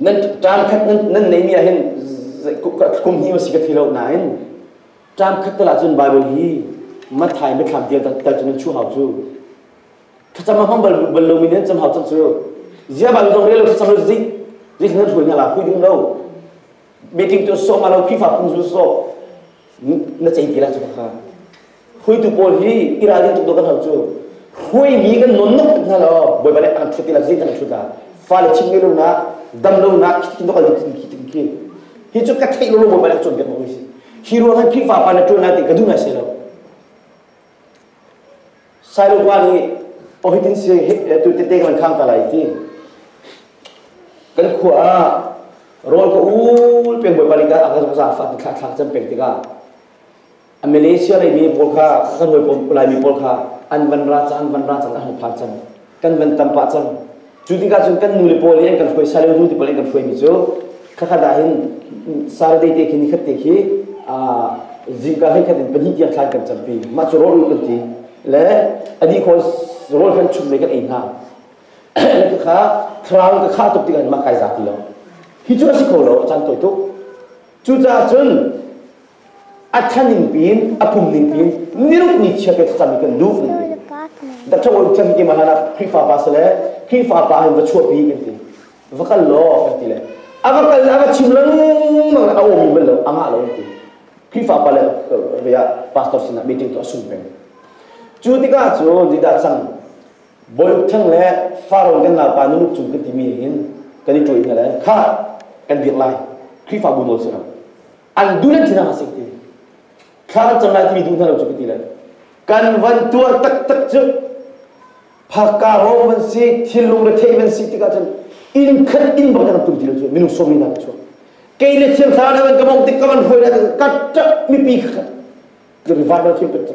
nan tlam khat nan neimi ah hin kum hi si ka thi lo nain tlam khat tal ahcun Bible hi Matthai mithlak dial tal cun chu hau cu thlacam hmam bal bal lo mi nan cham hau chan cu zia ba dong relo thlacam lo zik zik nan hui na la hui ding lo meeting tu so ma lo phi fa phun zu so na chei ti la chu ka hruaitu pawl hi i ralrin tuk dawh kan hau cu hruaimi kan nawn no hmanh hna law bawipa nih an thut ti lah zei an thut la fale chim ngei lonak dam lonak khitin dawk khitin khitin khi hi cu ka theih lo bawipa nih cawn biak ko si hi ruangah khrihfa pa na tuan lai ti ka duh ngai se lo sailopa nih ohitin si tu tete kan khang ta lai ti kan khua ah rol ko ul peng bawipa lika a ka za fa thla thla chan peng tikah A Malaysia reimi pawl kha ka hawi Laimi pawl kha an van ra cang an van ra cang an hung phak cang kan van tam pah cang cu tikah cun kan nu le pawl nih an kan hruai sale nu te pawl an kan hruaimi cu khakha dah hin Saturday te khi nikhat te khi zingka hei khat in pahnih tiang thlan kan campi mah cu rawl kan ti le a ni khawl rawl kan chum le kan ei hna le kha thlarau ka kha tuk tikah mah kai za ti lo hi cu a si kho lo a can tawi tuk cucaah cun a thaning pin a pum ning pin niruk ni chia pe thakam mi kan luh ning pin da thaw chan ki mana na krifa pa sale krifa pa han va chua pi kan ti va kal lo kan ti le ava kal ava chim lang mang a omi bal lo anga lo ti krifa pa le vya pastor sina meeting to asum pe cu tika cu dida chang boy thang le faron kan na pa nu chung kan ti mi hin kan i troi na le kha kan biak lai krifa bu no sira an duh nan thinang a sik ti thla kan cam lai timi duh hna lo cu ka ti lai kan van tuar taktak cu phakka ro van si thilung retheih van si tikah cun in khat in bang tum ti lo cu minung sawmi hna ka chuak kei le thiam thla na kan ka mong tik ka van hoi na kan kat ṭap mipi kha kan rivat na thiam kat cu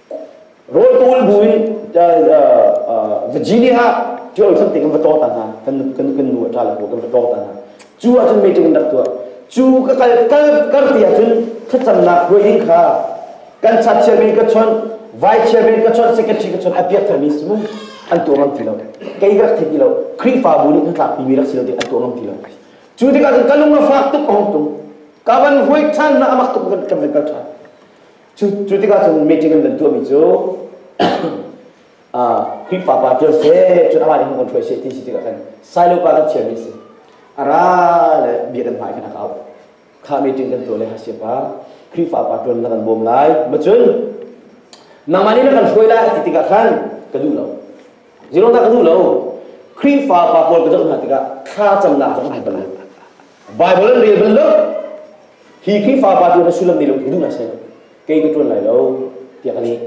Rawltu an bu in Virginia ah ṭiol chan tik in va ṭawng ta hna kan kan kan nu a ṭa le kan va ṭawng ta hna cu ah cun meeting in rak tuah cu ka kal kal kar ti ah cun thlacamnak hruai kha kan chat chairman ka chawnh vice chairman ka chawnh secretary ka chawnh a piak thar mi si mu an tuah ngam ti lo kei rak thei ti lo Khrihfabu nih kan tlak mi rak si lo ti an tuah ngam ti lo cu tikah cun ka lung a fak tuk a hong tung ka van huai ṭhan na amak tuk kan kan kal ṭhan Cu, cu tikah cun meeting an van tuahmi cu Khrihfa pa ṭuan seh, cun amah nih hung kan hruai seh ti si tikah khan Silo pa kan chiami a si. A ra le bia kan hmai khan a kau. Kha meeting kan tuah le Hasia pa, Khrihfa pa ṭuan na kan bawm lai. Macun, nangmah nih na kan hruai lai a ti tikah khan ka duh lo. Zero dah ka duh lo. Khrihfa pa pawl ka zoh hna tikah thlacamnak zong a hal bal lo. Bible an rel bal lo. Hi Khrihfa pa tiang na sullam nei lo hi duh sai lo. Kei ka tuan lai lo tiah ka ni.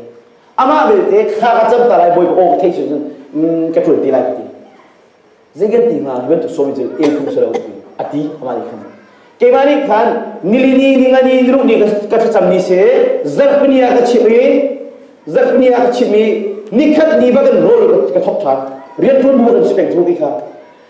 Amah belte kha ka cam ta lai bawi ka aw ka theih cun cun ka tuan te lai ka ti. Zai kan ti hnga bantuk sawmi cun el khung sa lo ti a ti amah nih khan. Keimah nih khan nilini ningani niruh ni ka thlacam ni se zarhpini ah ka chimmi zarhpini ah ka chimmi nikhat ni ba kan rawl ka thop ṭhan rian ṭuan bu kan si peng cu ti kha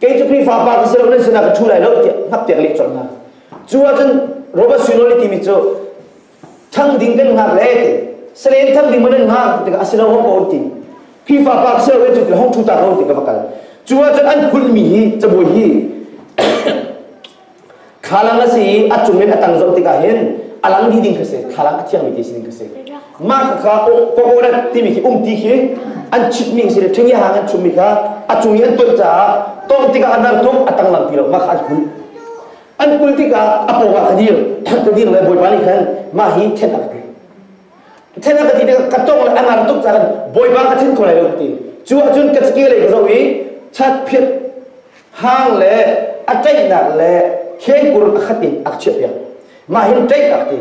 kei cu Khrihfa pa ka si lo nan sinah ka ṭhu lai lo tiah hnappiak leh colh hna cu ahcun Robert Sunoli timi cu thang ding kan ngak le salen thang ding man an ngak tikah a si lo hong ko an ti Khrihfa pa ka si lo cu ti hong ṭhu ta ko ti ka va kal cu ahcun an kulhmi hi cabuai hi Thlalang a si i a cung in a tang zoh tikah hin a lang dih ding kha si, thlalang a thiangmi ti si ding kha si. Mah ka kha kokorat timi khi umti khi an chitmi si le ṭhengia hang an chummi kha a cung i an tonh caah tawh tikah a nang tuk a tang lang ti lo mah kha an kulh. An kul tikah a pawngah ka dir ka dir le bawipa nih khan mah hi then a ka ti. Then a ka ti tikah ka tawng le a ngar tuk caah bawipa ka then kho lai lo ka ti. Cu ahcun ka cike lei ka zoh i chat phiat hang le a tlaihnak le khengkur a khat in a chiahpiak mah hin tlaih ak ti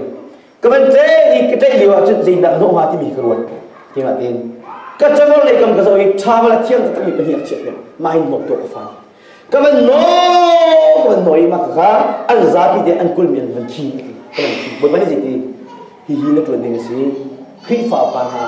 ka van tlaih i ka tlaih lio ahcun zeinak hnawh hnga timi ka ruat ti nga tin ka changor lei kam ka zo i tha la thiang takmi pahnih a chiahpiak mah hin mawk to ka fa ka van no ka van no i ma ka an zapi te an kul min van khi ka van khi boi pani ji ti hi hi na tuan ding a si Khrihfa pa hna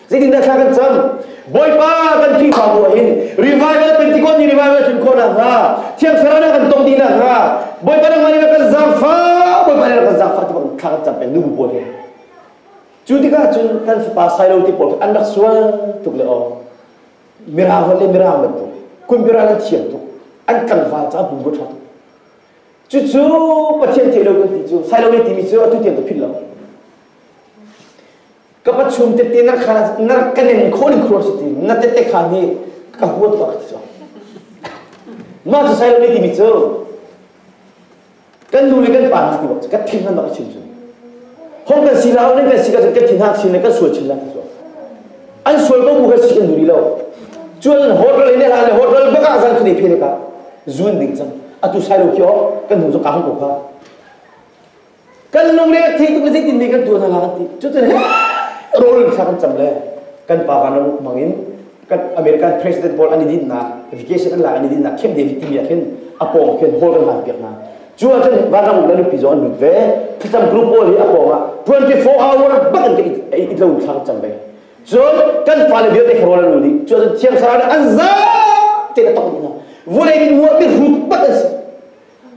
Zeitindah thla kan cam? Bawipa kan Khrihfabu ah hin revival Pentecost ni revival tlun khawh nakhnga Thiang Thlarau ah kan tong dih nakhnga Bawipa nangmah nih kan zaangfa Bawipa nih kan zaangfa ti bang thla kan cam peng nu bu pawl he cu tikah cun kan fapa Sailo te pawl an rak sual tuk le aw mirang le mirang bantuk kunbira nan thiang tuk an tlangval caah bumbu ṭha tuk cucu pathian theih lo kan ti cu Sailo ne timi cu atu tiang ka philh lo ka pa chung tete na kha na ka nen khon khur si ti na tete kha ni ka huat ka ti so ma su sai lo ni ti cu kan nu le kan pa na ti ka thing nan ba ka chin chin hon kan si la ne kan si ka ka thing ha chin le kan sual chin la ti so an sual ko bu ka si kan duri lo chuan hotel ne la le hotel baka zan khne phene ka zun ding chang atu sai lo kyo kan nu zo ka hang ko ka kan lungre a thei tuk le zeitin nih kan tuan haka an ti cutin he rawl in kan cam le kan pa kan ram ukmang in kan American president pawl an i dinnak vacation an lak an i dinnak Camp David timi ah khin a pawng khin hall kan hlan piak hna cu ah cun van ram uk le lupi zong an lut ve thlacam group pawl hi a pawng ah 24 hour bak in ka it lo thlang cam ve cun kan fale vialte kharawl an nih cu cun thiang sarah an za te na tong dih na vulei in muah mi rut tak an si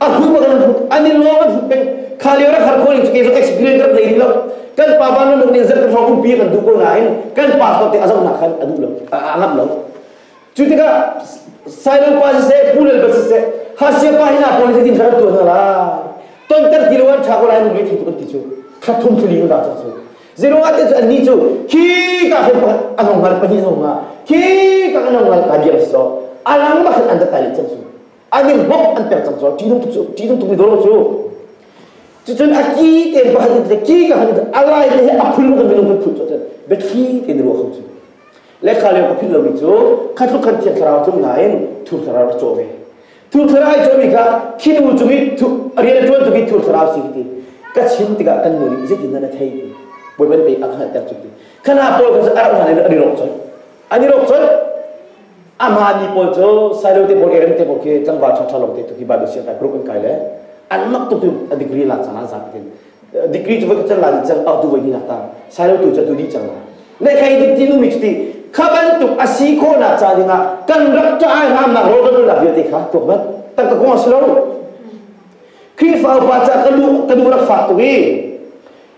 a hum kan hum an in lawng kan hum peng kha lio rak har khawling ke zong experience rak nei lo kan pa ba nun ning zan kan hong um pi kan du ko nain kan pa fa te azong na khan adu lo a ngam lo cu tikah Simon pa se pulel ba se hasia pa hina policy din kharat tu na la ton ter ti loan tha ko lai nu thi kan ti chu khathum chu li da chu zero ate chu anni chu khi ka hen pa anong ngal pani zo nga khi ka anong ngal ka dia so alang ba an da tali chang su a ning hok an tel cang cu ṭihnung tuk cu ṭihnung tuk mi dor cu cucun a ki te ba han te ki ka han a lai te he a phul kan minung kan phul cu cun betri te ne ruwa kham cu le kha leo ka phil lomi cu kha tluk kan thiang thlarau tlung nain thur thlarau na chaw ve thur thlarau i chawmi kha khinu cung i rian ṭuan tuk i thur thlarau si ti ka chim tikah kan nu nih zeitin na thei ti boiban pe a khangal ter cu ti khana paul kan a rak hlan in a rirok choi ani rok choi Amah ni pawl cu Sailo te pawl Eren te pawl khi tlangval ṭhangṭha lawng te tuki Bible sian group an kai le an mak tuk cun a degree lak cang ah zapi tin degree cu voi khat can la dih cang a tu voi hnih nak tang Sailo tu cu a tu dih cang la ne khai duk ti lu mi cuti kha bantuk a si khawh nak ca ding ah kan rak ṭa ai ngam nak ro ro la vialte kha tuak mat tak ka kong a si lo Khrihfa upa ca ka lu ka nu rak fak tuk i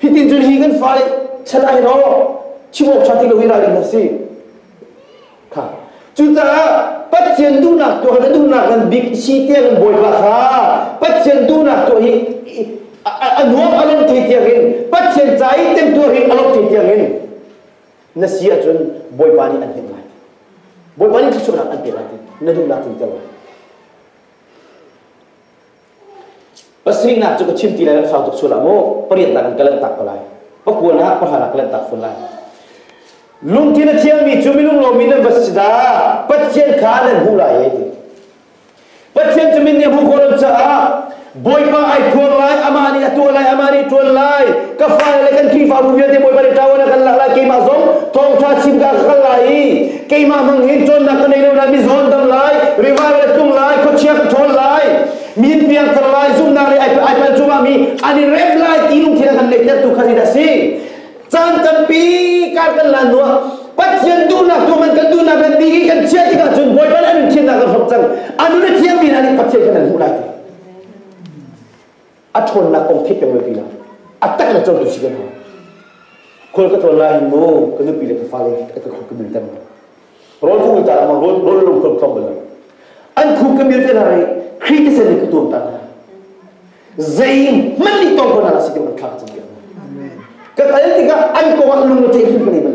Hitin cun hi kan fai chalai ro chimawk ṭha ti lo i rai na si. Kha. Cucaah Pathian duhnak tuah na duhnak ngan bik si tiang in Bawipa kha Pathian duhnak tuah hi a nuam a lawm thei tiang in Pathian ca i tem tuah hi a lawm thei tiang in na si ahcun Bawipa nih an him lai. Bawipa nih thluachuahnak an pe lai na duhnak tlingter lai. Pasihnak cu ka chim ti lai kan sau tuk sual ah mu pariat nak in ka lanhtak ko lai pakuan ah pahala ka lanhtak fawn lai lungthin a thiangmi cu milunglomi nan va si dah Pathian kha nan hmuh lai e ti Pathian cu min nih a hmuh khawh lo caah Bawipa ai phuang lai amah nih a tuah lai amah nih ṭuan lai ka fa le kan Khrihfabu vialte Bawipa nih ṭawan a kan lak lai keimah zong thawngṭha chim ka kal lai i keimah bang hin cawnnak ka nei lo lai mi zawn dam lai revival a tlung lai khuachia ka ṭhawl lai mi in piangthar lai zumhnak le ai pal cungah mi an i rep lai ti lungthin a kan nei tertu kha hi da si caan tampi kar kan lan nuah Pathian duhnak tu man kan duhnak kan bi kan chia tikah cun bawi ban an thiannak kan hrok cang anu le thiang mi hna nih Pathian kan an hmuh lai a ṭhawnnak kong theih peng lai ti lo a tak le cawtu si kan hau khual ka tlawn lai hin mu ka nupi le ka fale ka ka khuk ka bil tem rawl khu ta ma rawl rawl lung khom khom bal an khu ka mil te na rai khri te sen ka tuam ta na zei man ni tong ko na si te man thang cham ke ka tal tikah an ko an lung te hin bale man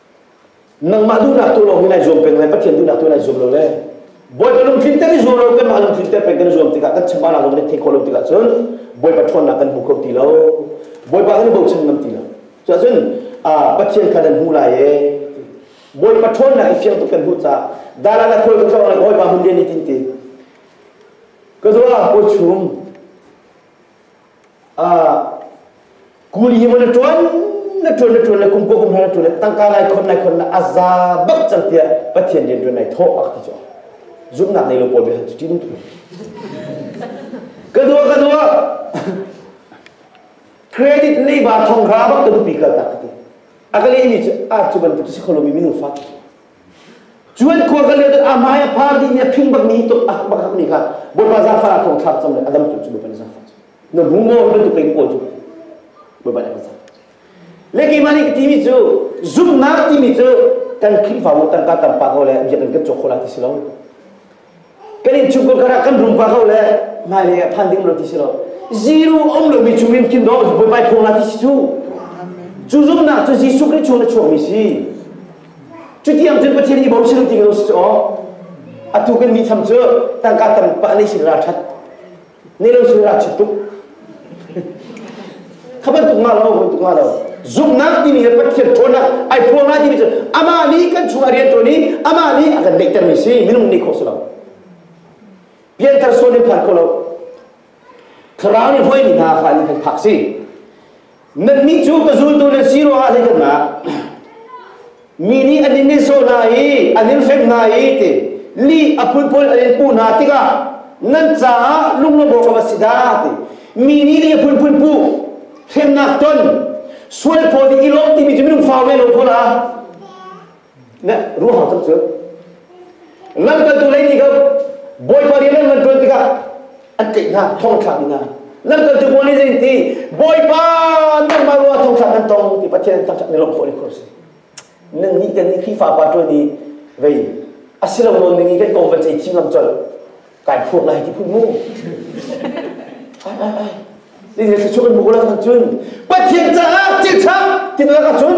nangmah duhnak tu lawng in ai zuam peng le pathian duhnak tu in ai zuam lo le bawipa lungthin te ni zuam lo kan mah lungthin te peng kan zuam tikah kan chama la zong kan theih khawh lo tikah cun bawipa ṭhawnnak kan hmu kho ti lo bawipa kan i bochan ngam ti lo cuah cun pathian kha nan hmu lai e bawipa ṭhawnnak i fiang tuk kan hmuh ca dara na khawl ka tlawng le bawipa hmun rian ni tin ti ka dua ko chung kuli hi maw na ṭuan na ṭuan na ṭuan le kumkua kumhra na ṭuan le tangka nai khon nai khon na a za bak cang tiah pathian rian ṭuan nai thawh a ka ti cu zumhnak nei lo pawl biahal cu ṭitum tuk ka dua ka dua credit nei ba thong ra bak ka dupi kal tak ka ti a ka lehmi cu a cu bantuk si kholomi minung fa Cuan khua ka leh a hmai a phar dih mi a phing bak mi hi tuk a bak hak mi kha Bawipa zangfar thong thlak cam le a dam tu cu Bawipa zangfar cu na bu mo hi bantuk in kawl cu Bawipa nih a zang le kei mah nih ka ti mi cu zumhnak ti mi cu kan Khrihfa mu tangka tampa ko le bia kan kan cawk kho la ti si lo kan in chung kan kan rum ka ko le nai le phan ding lo ti si lo zero om lo mi chung in kin do bu bai phung la ti si chu chu zum na chu Jesu Christ chung na chuak mi si chu tiang cun Pathian i bau siru ti ko si o atu kan mi tham chu tangka tang pa nei sin ra that ni lo sui rah chit tuk kha bantuk nga lo bantuk nga lo zumhnak timi he pathian ṭhawnnak ai phuang lai timi cu amah nih kan chung a rian ṭuan i amah nih a kan deihtermi si minung nih khawh si lo pianthar suan in phan ko lo thlarau nih hruaimi hna kha an kan phak si Nannih cu ka zultu na si ruangah hlei kanmah mi nih an in sawh hna i an in hrem hna i ti li a phunphun an in puh hna tikah nan caah lunglawmawm a si dah ti mi nih li a phunphun puh hremnak ton sual phaw ding i lawm timi cu minung fa ve lo pawl ah ne ruhang chap cu lamkaltu lei nih kha bawipa rian nan ṭuan tikah an tlaih hna thong thlak hna lamkaltu pawl nih zeitin bawipa nangmah ruah thong thlak kan tong ti pathian an thangṭhat ni lawm khawh le khawr si nangnih kan nih Khrihfa pa ṭuan i vei a si lo nawn ning i kan kong van cei thim lam colh kai phuak lai ti phun mu ai ai ai ni le thluachuah kan hmu ko la cun pathian caah thil ṭha ti na ka cun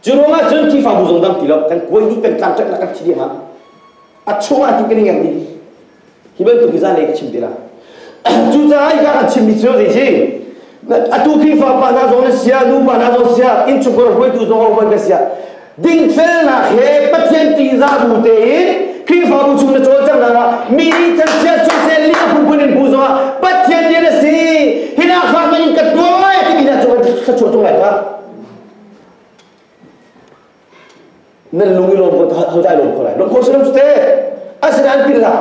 Cu ruangah cun Khrihfabu zong dang ti lo kan kuai dih kan tlangṭanhnak kan thi dih hna. A chungah hin kan i ngerh dih. Hi bantuk hi zanlei ka chim te la. Cucaah hika kan chimmi cu zei si? Atu Khrihfa pa hna zong na siah, nupa hna zong siah, innchungkhar hruaitu zong a um an ka siah, Dingfelnak he Pathian ṭihzah bu tein Khrihfabu chung na cawlcanghnak ah mi nih thangchiat soisel li a phunphun in bu zongah Pathian din a si hinak kha ka in ka tuah lai timi na cu ka chuah ṭung lai ka nan lung i lawm ko hau dai lawm ko lai lawm ko si lo cu te asinain pirla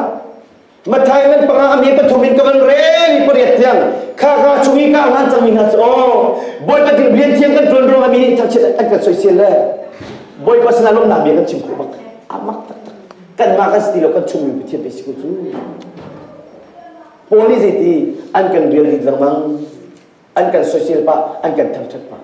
Matthai ngan panga am he pathum in ka van reng pariat tiang kha ka chung i ka ngan cangmi hna cu aw Bawipa ding rian thiang kan tuan ruangah mi nih thangchiat an kan soisel le Bawipa sinah lawmhnak bia kan chim khawh bak amak taktak kanmah kan si ti lo kan chungmi Pathian pe si ku cu Paul nih zeiti an kan rial ding lengmang an kan soisel pah an kan thangthat pah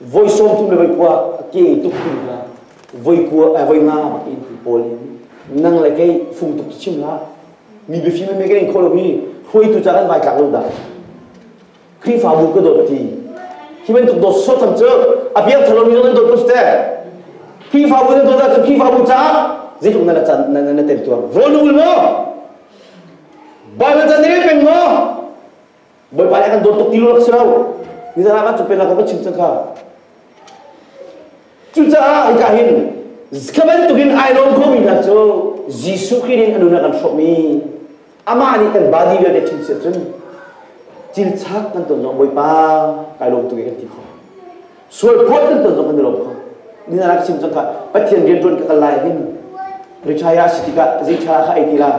voi sawmtu le voikua a ke tuktu hna voikua eh, voingam ke ti pawl in nang le kei fung tuk chim la mi bifi me ke in kholo mi hruaitu cha kan vai tlak lo da krifabu ka dot ti hi men tuk dot so tham chu abiang thalo mi nan dot pus te krifabu na dot da chu krifabu cha zeitluk na la chan na na tem tuar rol ul mo ba na chan ne pen mo Bawipa nih a kan dawt tuk ti lo si lo. Nizan ah kan cung peknak kan chim cangka. Cucaah hika hin ka bantuk in ai lawm khomi hna cu Jesuh Khrih nih a nun ah kan hrawmh i amah nih kan body vialte chim si ahcun cil chak kan ton zong Bawipa kai lawm tuk i kan ti khawh. sual phuah tlun ton zong kan i lawm kho ni na rak chim cang ka pathian rian ṭuan ka kal lai hin ricaya si tikah zeicha kha ei ti la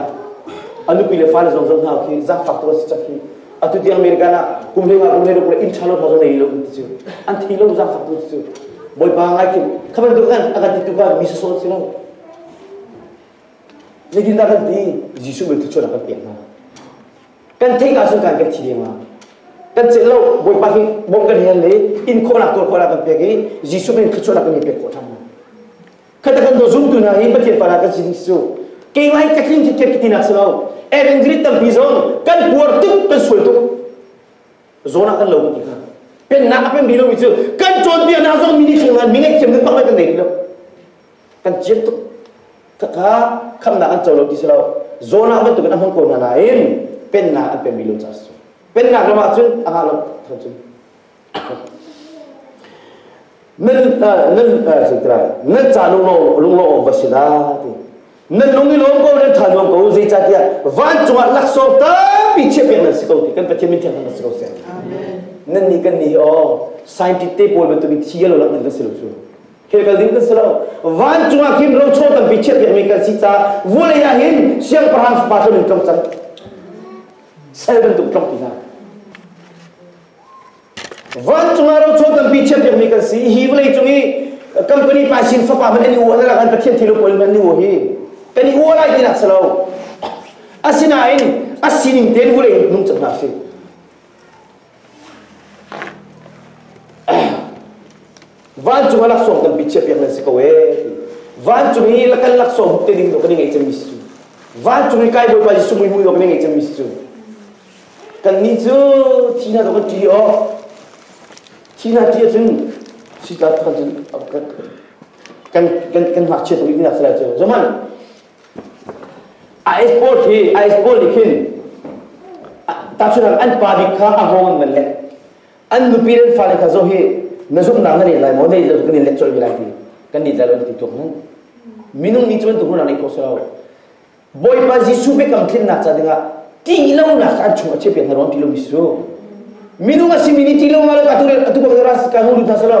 anupi le fale zong zong hna khi zangfak to si chak hi atu tiang america na kum le nga kum le kum le in chalo tho zong nei lo ti chu an thi lo zangfak tu chu boipa ngai kim khaban tu kan akan ti tu ka mi sa so si lo nitin da kan ti jisu be tu chona kan piang na kan theih ka cun kan kan thi dengah kan chet lo bawipa hi bom kan hel le in khawhnak tuar khawhnak kan pek i jesuh min thluachuahnak kan i pek khawh ṭhan khata kan do zumtu hna hi pathian fana kan si ding cu keingai ka tling thit kek tinak si lo evangeli tampi zong kan puar tuk kan sual tuk zonah kan lo ti kha pennak a pen bi lomi cu kan cawnpiaknak zong mini thleng ngan mi ngaihthiam kan pang lai kan nei lo kan ciam tuk kha khamnak an co lo ti si lo zawnah bantukin a hmang ko hna nain pennak an penmi lo ca si pennak ram ahcun a ngah lo thang cun nan nan nan ca lunglo lunglo va si na ti nan lung i lawm ko nan tha nuam ko zeicahtiah van cungah laksawng tampi chiah pek nan si ko ti kan pathian min thiang si ko se nan ni kan ni hi o scientist te pawl bantukin thi lo lak nan kan si lo cu Kekal ding kan si lo. Vancung ah khin rocho tampi chiah piakmi kan si caah vawlei ah hin siangpahrang fapa cu min tlong cang. Sal bantuk tlong ti hna. Vancung ah rocho tampi chiah piakmi kan si. Hi vawlei cung i company paisin fapa man an i uah na lang an pathian thi lo pawl man ni uah hi kan i uah lai tinak si lo asinain a sining ten vawlei nung cang hna si vancung a laksawng tampi chiahpiak nan si ko ee vancung i kan laksawng te ding do kan i ngei cemmi si cu vancung i kai bawipa jesuh mui mui do kan i ngei cemmi si cu kan ni cu thina do kan ṭi o thina ṭi ahcun si ta cun kan kan kan ngakchia to i nak sai cu zaman A export hi a export nih khin tahchunang an pa bik kha a hawng an van let an nupi le fale kha zo hi na zumhnak na let lai maw na kan in let colh lai ti kan let lai lo ti tuk nan minung nih cun tukru na nei kho so bawipa jesuh biakam tlinnak ca dingah ti lonak an chung a chep yang ron ti lo mi su minung a simini ti lo ma lo ka tu atu ka ras ka nu lu tha salo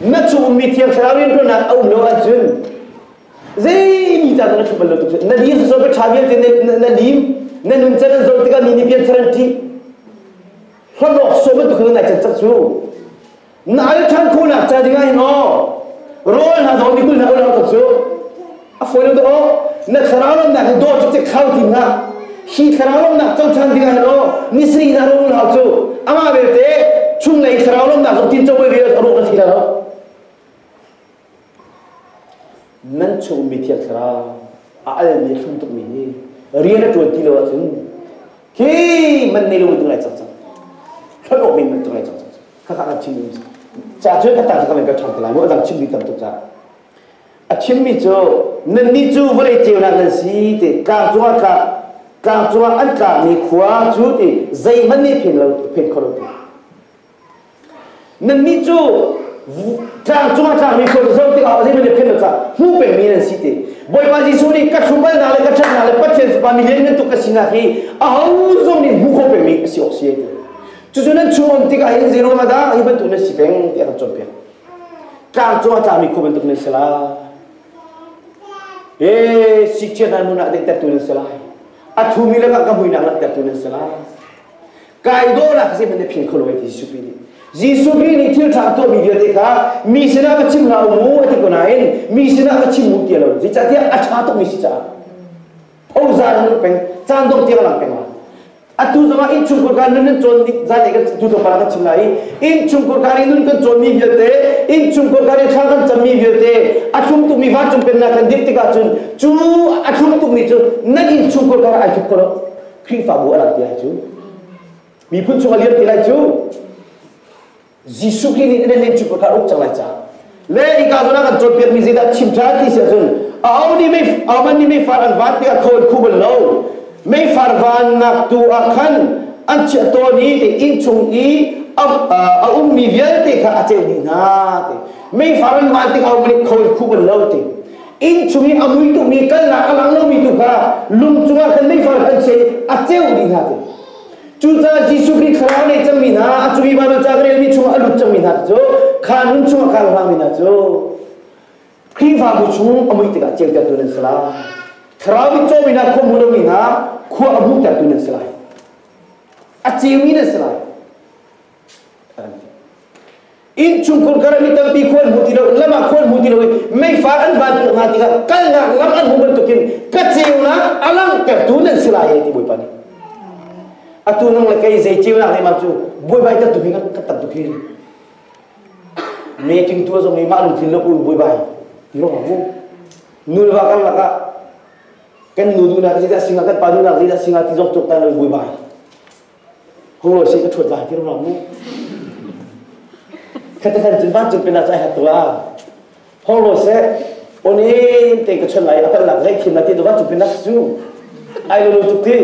Na cu ummi thiang thlarau rianṭuannak a um lo ahcun zei ni caan na ṭhu bal lo tuk na lim sosai ka ṭha vialte na lim na nun can an zoh tikah mi nih bian saran ṭih hlawt awk sawm bantuk in nai can cak cu na al ṭhan khawhnak ca ding ah hin aw rawl hna zong mikul hna ulak tuk cu a fawi dawh na thlarau lawmnak hi dawt cu cek hau tim hlah hi thlarau lawmnak cocan dingah law ni sri na ro unau cu amah belte chunglei thlarau lawmnak cu tin cowe vial a ro na thi lo nan chungmi thiang thlarau a almi hrum tukmi hi rian a tuan ti lo ahcun khi man nei lo tung lai cang cang kan ok min tung lai cang cang kakak na chin ca cu ka ta kan ka chang lai mu adang chin mi tam tuk ca a chimmi cu nannih cu vawlei ceunak nan si ti tlang cungah tlang tlang cungah an tlakmi khua cu ti zeihmanh nih phin lo phin kho lo ti nannih cu tlang cungah tlakmi khua cu zoh tikah zeihmanh nih phin lo cang hmuh pengmi nan si ti Bawipa Jesuh nih ka hrubal le ka ṭhatnak le Pathian fapa milian ngantuk ka sinak hi aho zong nih hmuh kho pengmi a si awk si ti cucu nan chungum tikah hin zei ruangah dah hi bantuk nan si peng ti a kan cawnpiak Tlang cu a tlami khua bantuk nan si lai. E sikchia nan nun ah tertu nan si lai. A thumi lakah ka muinak lak tertu nan si lai. Kai do nak si man ne phing kholo ti Jesuh Khrih nih Jesuh Khrih nih thil ṭha tuahmi vialte kha mi sinah va chim hlah u mu a ti ko nain mi sinah va chim u ti lo zeicahtiah a ṭha tukmi si caah Ozar nu peng caan dong tiang lang peng la atu zongah inn chungkur kar nun nan cawn zanei kan tu thawpara kan chim lai inn chungkur kar i nun kan cawn mi vialte inn chungkur kar i thla kan cam mi vialte a thlum tuk mi vancung pennak kan dih tikah cun cu a thlum tuk mi cu nan inn chungkur kar ai thup ko lo Khrihfabu a lang ti lai cu miphun chungah liam ti lai cu Jesuh klinik in lim cu ka ruk cang lai ca le ika zona kan cawnpiak mi zeidah chim than ti si ahcun a au nih mei a man nih meifar an van tiah khawl khu bal lo meifar van nak tu ah khan an chiah tawn i ti inn chung i a um mi vialte kha a ceu dih hna ti meifar an van tik a um nih khawl khu bal lo ti inn chung i a mui tu mi kalnak a lang lo mi tu kha lung cungah khan meifar khan sei a ceu dih hna ti Cucaah Jesuh Khrih thlarau nei cangmi hna, a cumi Baibal ca ka relmi chungah a lut cangmi hna cu kha nun chungah kaa hngami hna cu Khrihfabu chung a muih tikah ceutertu nan si lai. Thlarau i cawmi hna, khua hmu lomi hna, khua a hmuhtertu nan si lai. A ceumi nan si lai. Innchung khun karah mi tampi khua an hmu ti lo, lam ah khua an hmu ti lo i meifar an van tuh hnga tikah kalnak lam an hmu bantukin ka ceunak a langhtertu nan si lai ti Bawipa nih atu nang le kei zei ceunak le mah cu buaibai tat tukin ka tat tukin making tu zong i mah lung thin lok un buaibai ti rong mu nulwa kan lakah kan nu dunak zita singa kan pa dunak zita singa ti zong tuk tan lo buaibai Ho si ka ṭhuat vai ti ruang mu. Khata khan cun van cung pinah cai hat tua. Holo seh, oni te ka chuan lai apal lak zai thim lati to van cung pinah su. Ai lo lo tuk ti.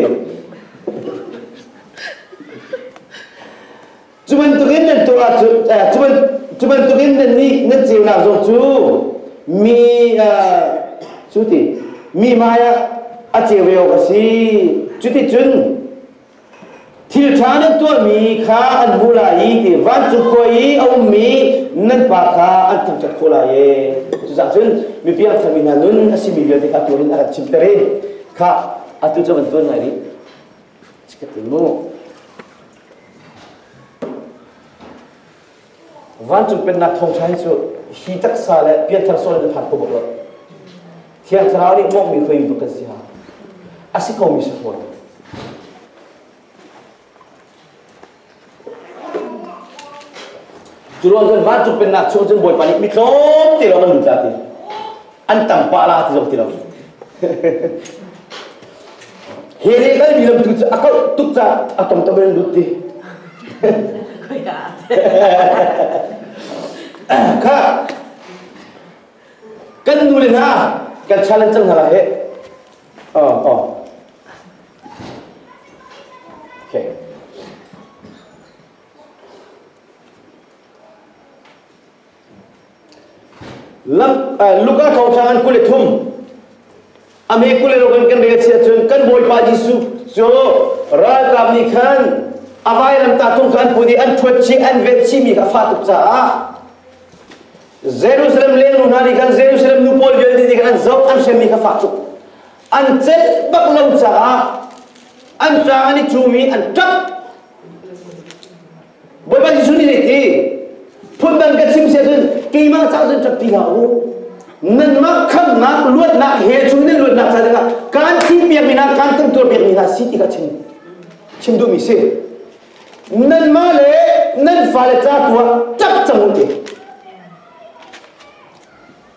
Cubantukin nan tu ahcun cubantukin nan nih nan ceunak zong cu mi cu ti mi maya a ceu a si cuti cun Thil ṭha nan tuahmi kha an hmuh lai i ti vancung khuai i a ummi nan pa kha an thangṭhat khawh lai e. Cucaah cun mipi a thangmi hna nun a simi vialte kha atu in a kan chimter i kha atu cu van tuan ngai rih. Ka ti mu. Vancung pennak thawngṭha hi cu hi taksa le pianthar sual in phan ko bak lo. Thiang Thlarau nih monghmi hruaimi bak kan si ha. A si komi si fawn. Curuang cun vancung pennak chung cun Bawipa nih mi tlawm ti lo an lut la ti. An tam pah la ti lo ti lo. Hi nih kan mi lamtu cu a kauh tuk ca a tom to men lut ti. Kha kan nu le hna kan challenge cang hala he. Oh, oh. Okay. Luka thawnghrang an kul i thum a me kule rokin kan rel si ahcun kan Bawipa Jesuh cu ralkap nih khan a vairam tahtung kha an put i an ṭhuat chih an vet chihmi kha a fah tuk caah Jerusalem lengnu hna nih khan Jerusalem nu pawl vialte nih khan an zoh an hremmi kha fak tuk an celh bak lo caah an ṭang an i cum i an ṭap Bawipa Jesuh nih hi phundang ka chim si ahcun keimah caah cun ṭap ti hlah u. Nanmah khamhnak luatnak he chung nan luatnak ca dingah kaan thih piakmi hna kaan kan tuar piakmi hna si ti kha chim chim duhmi si. Nanmah le nan fale ca tu ah ṭap cang u ti.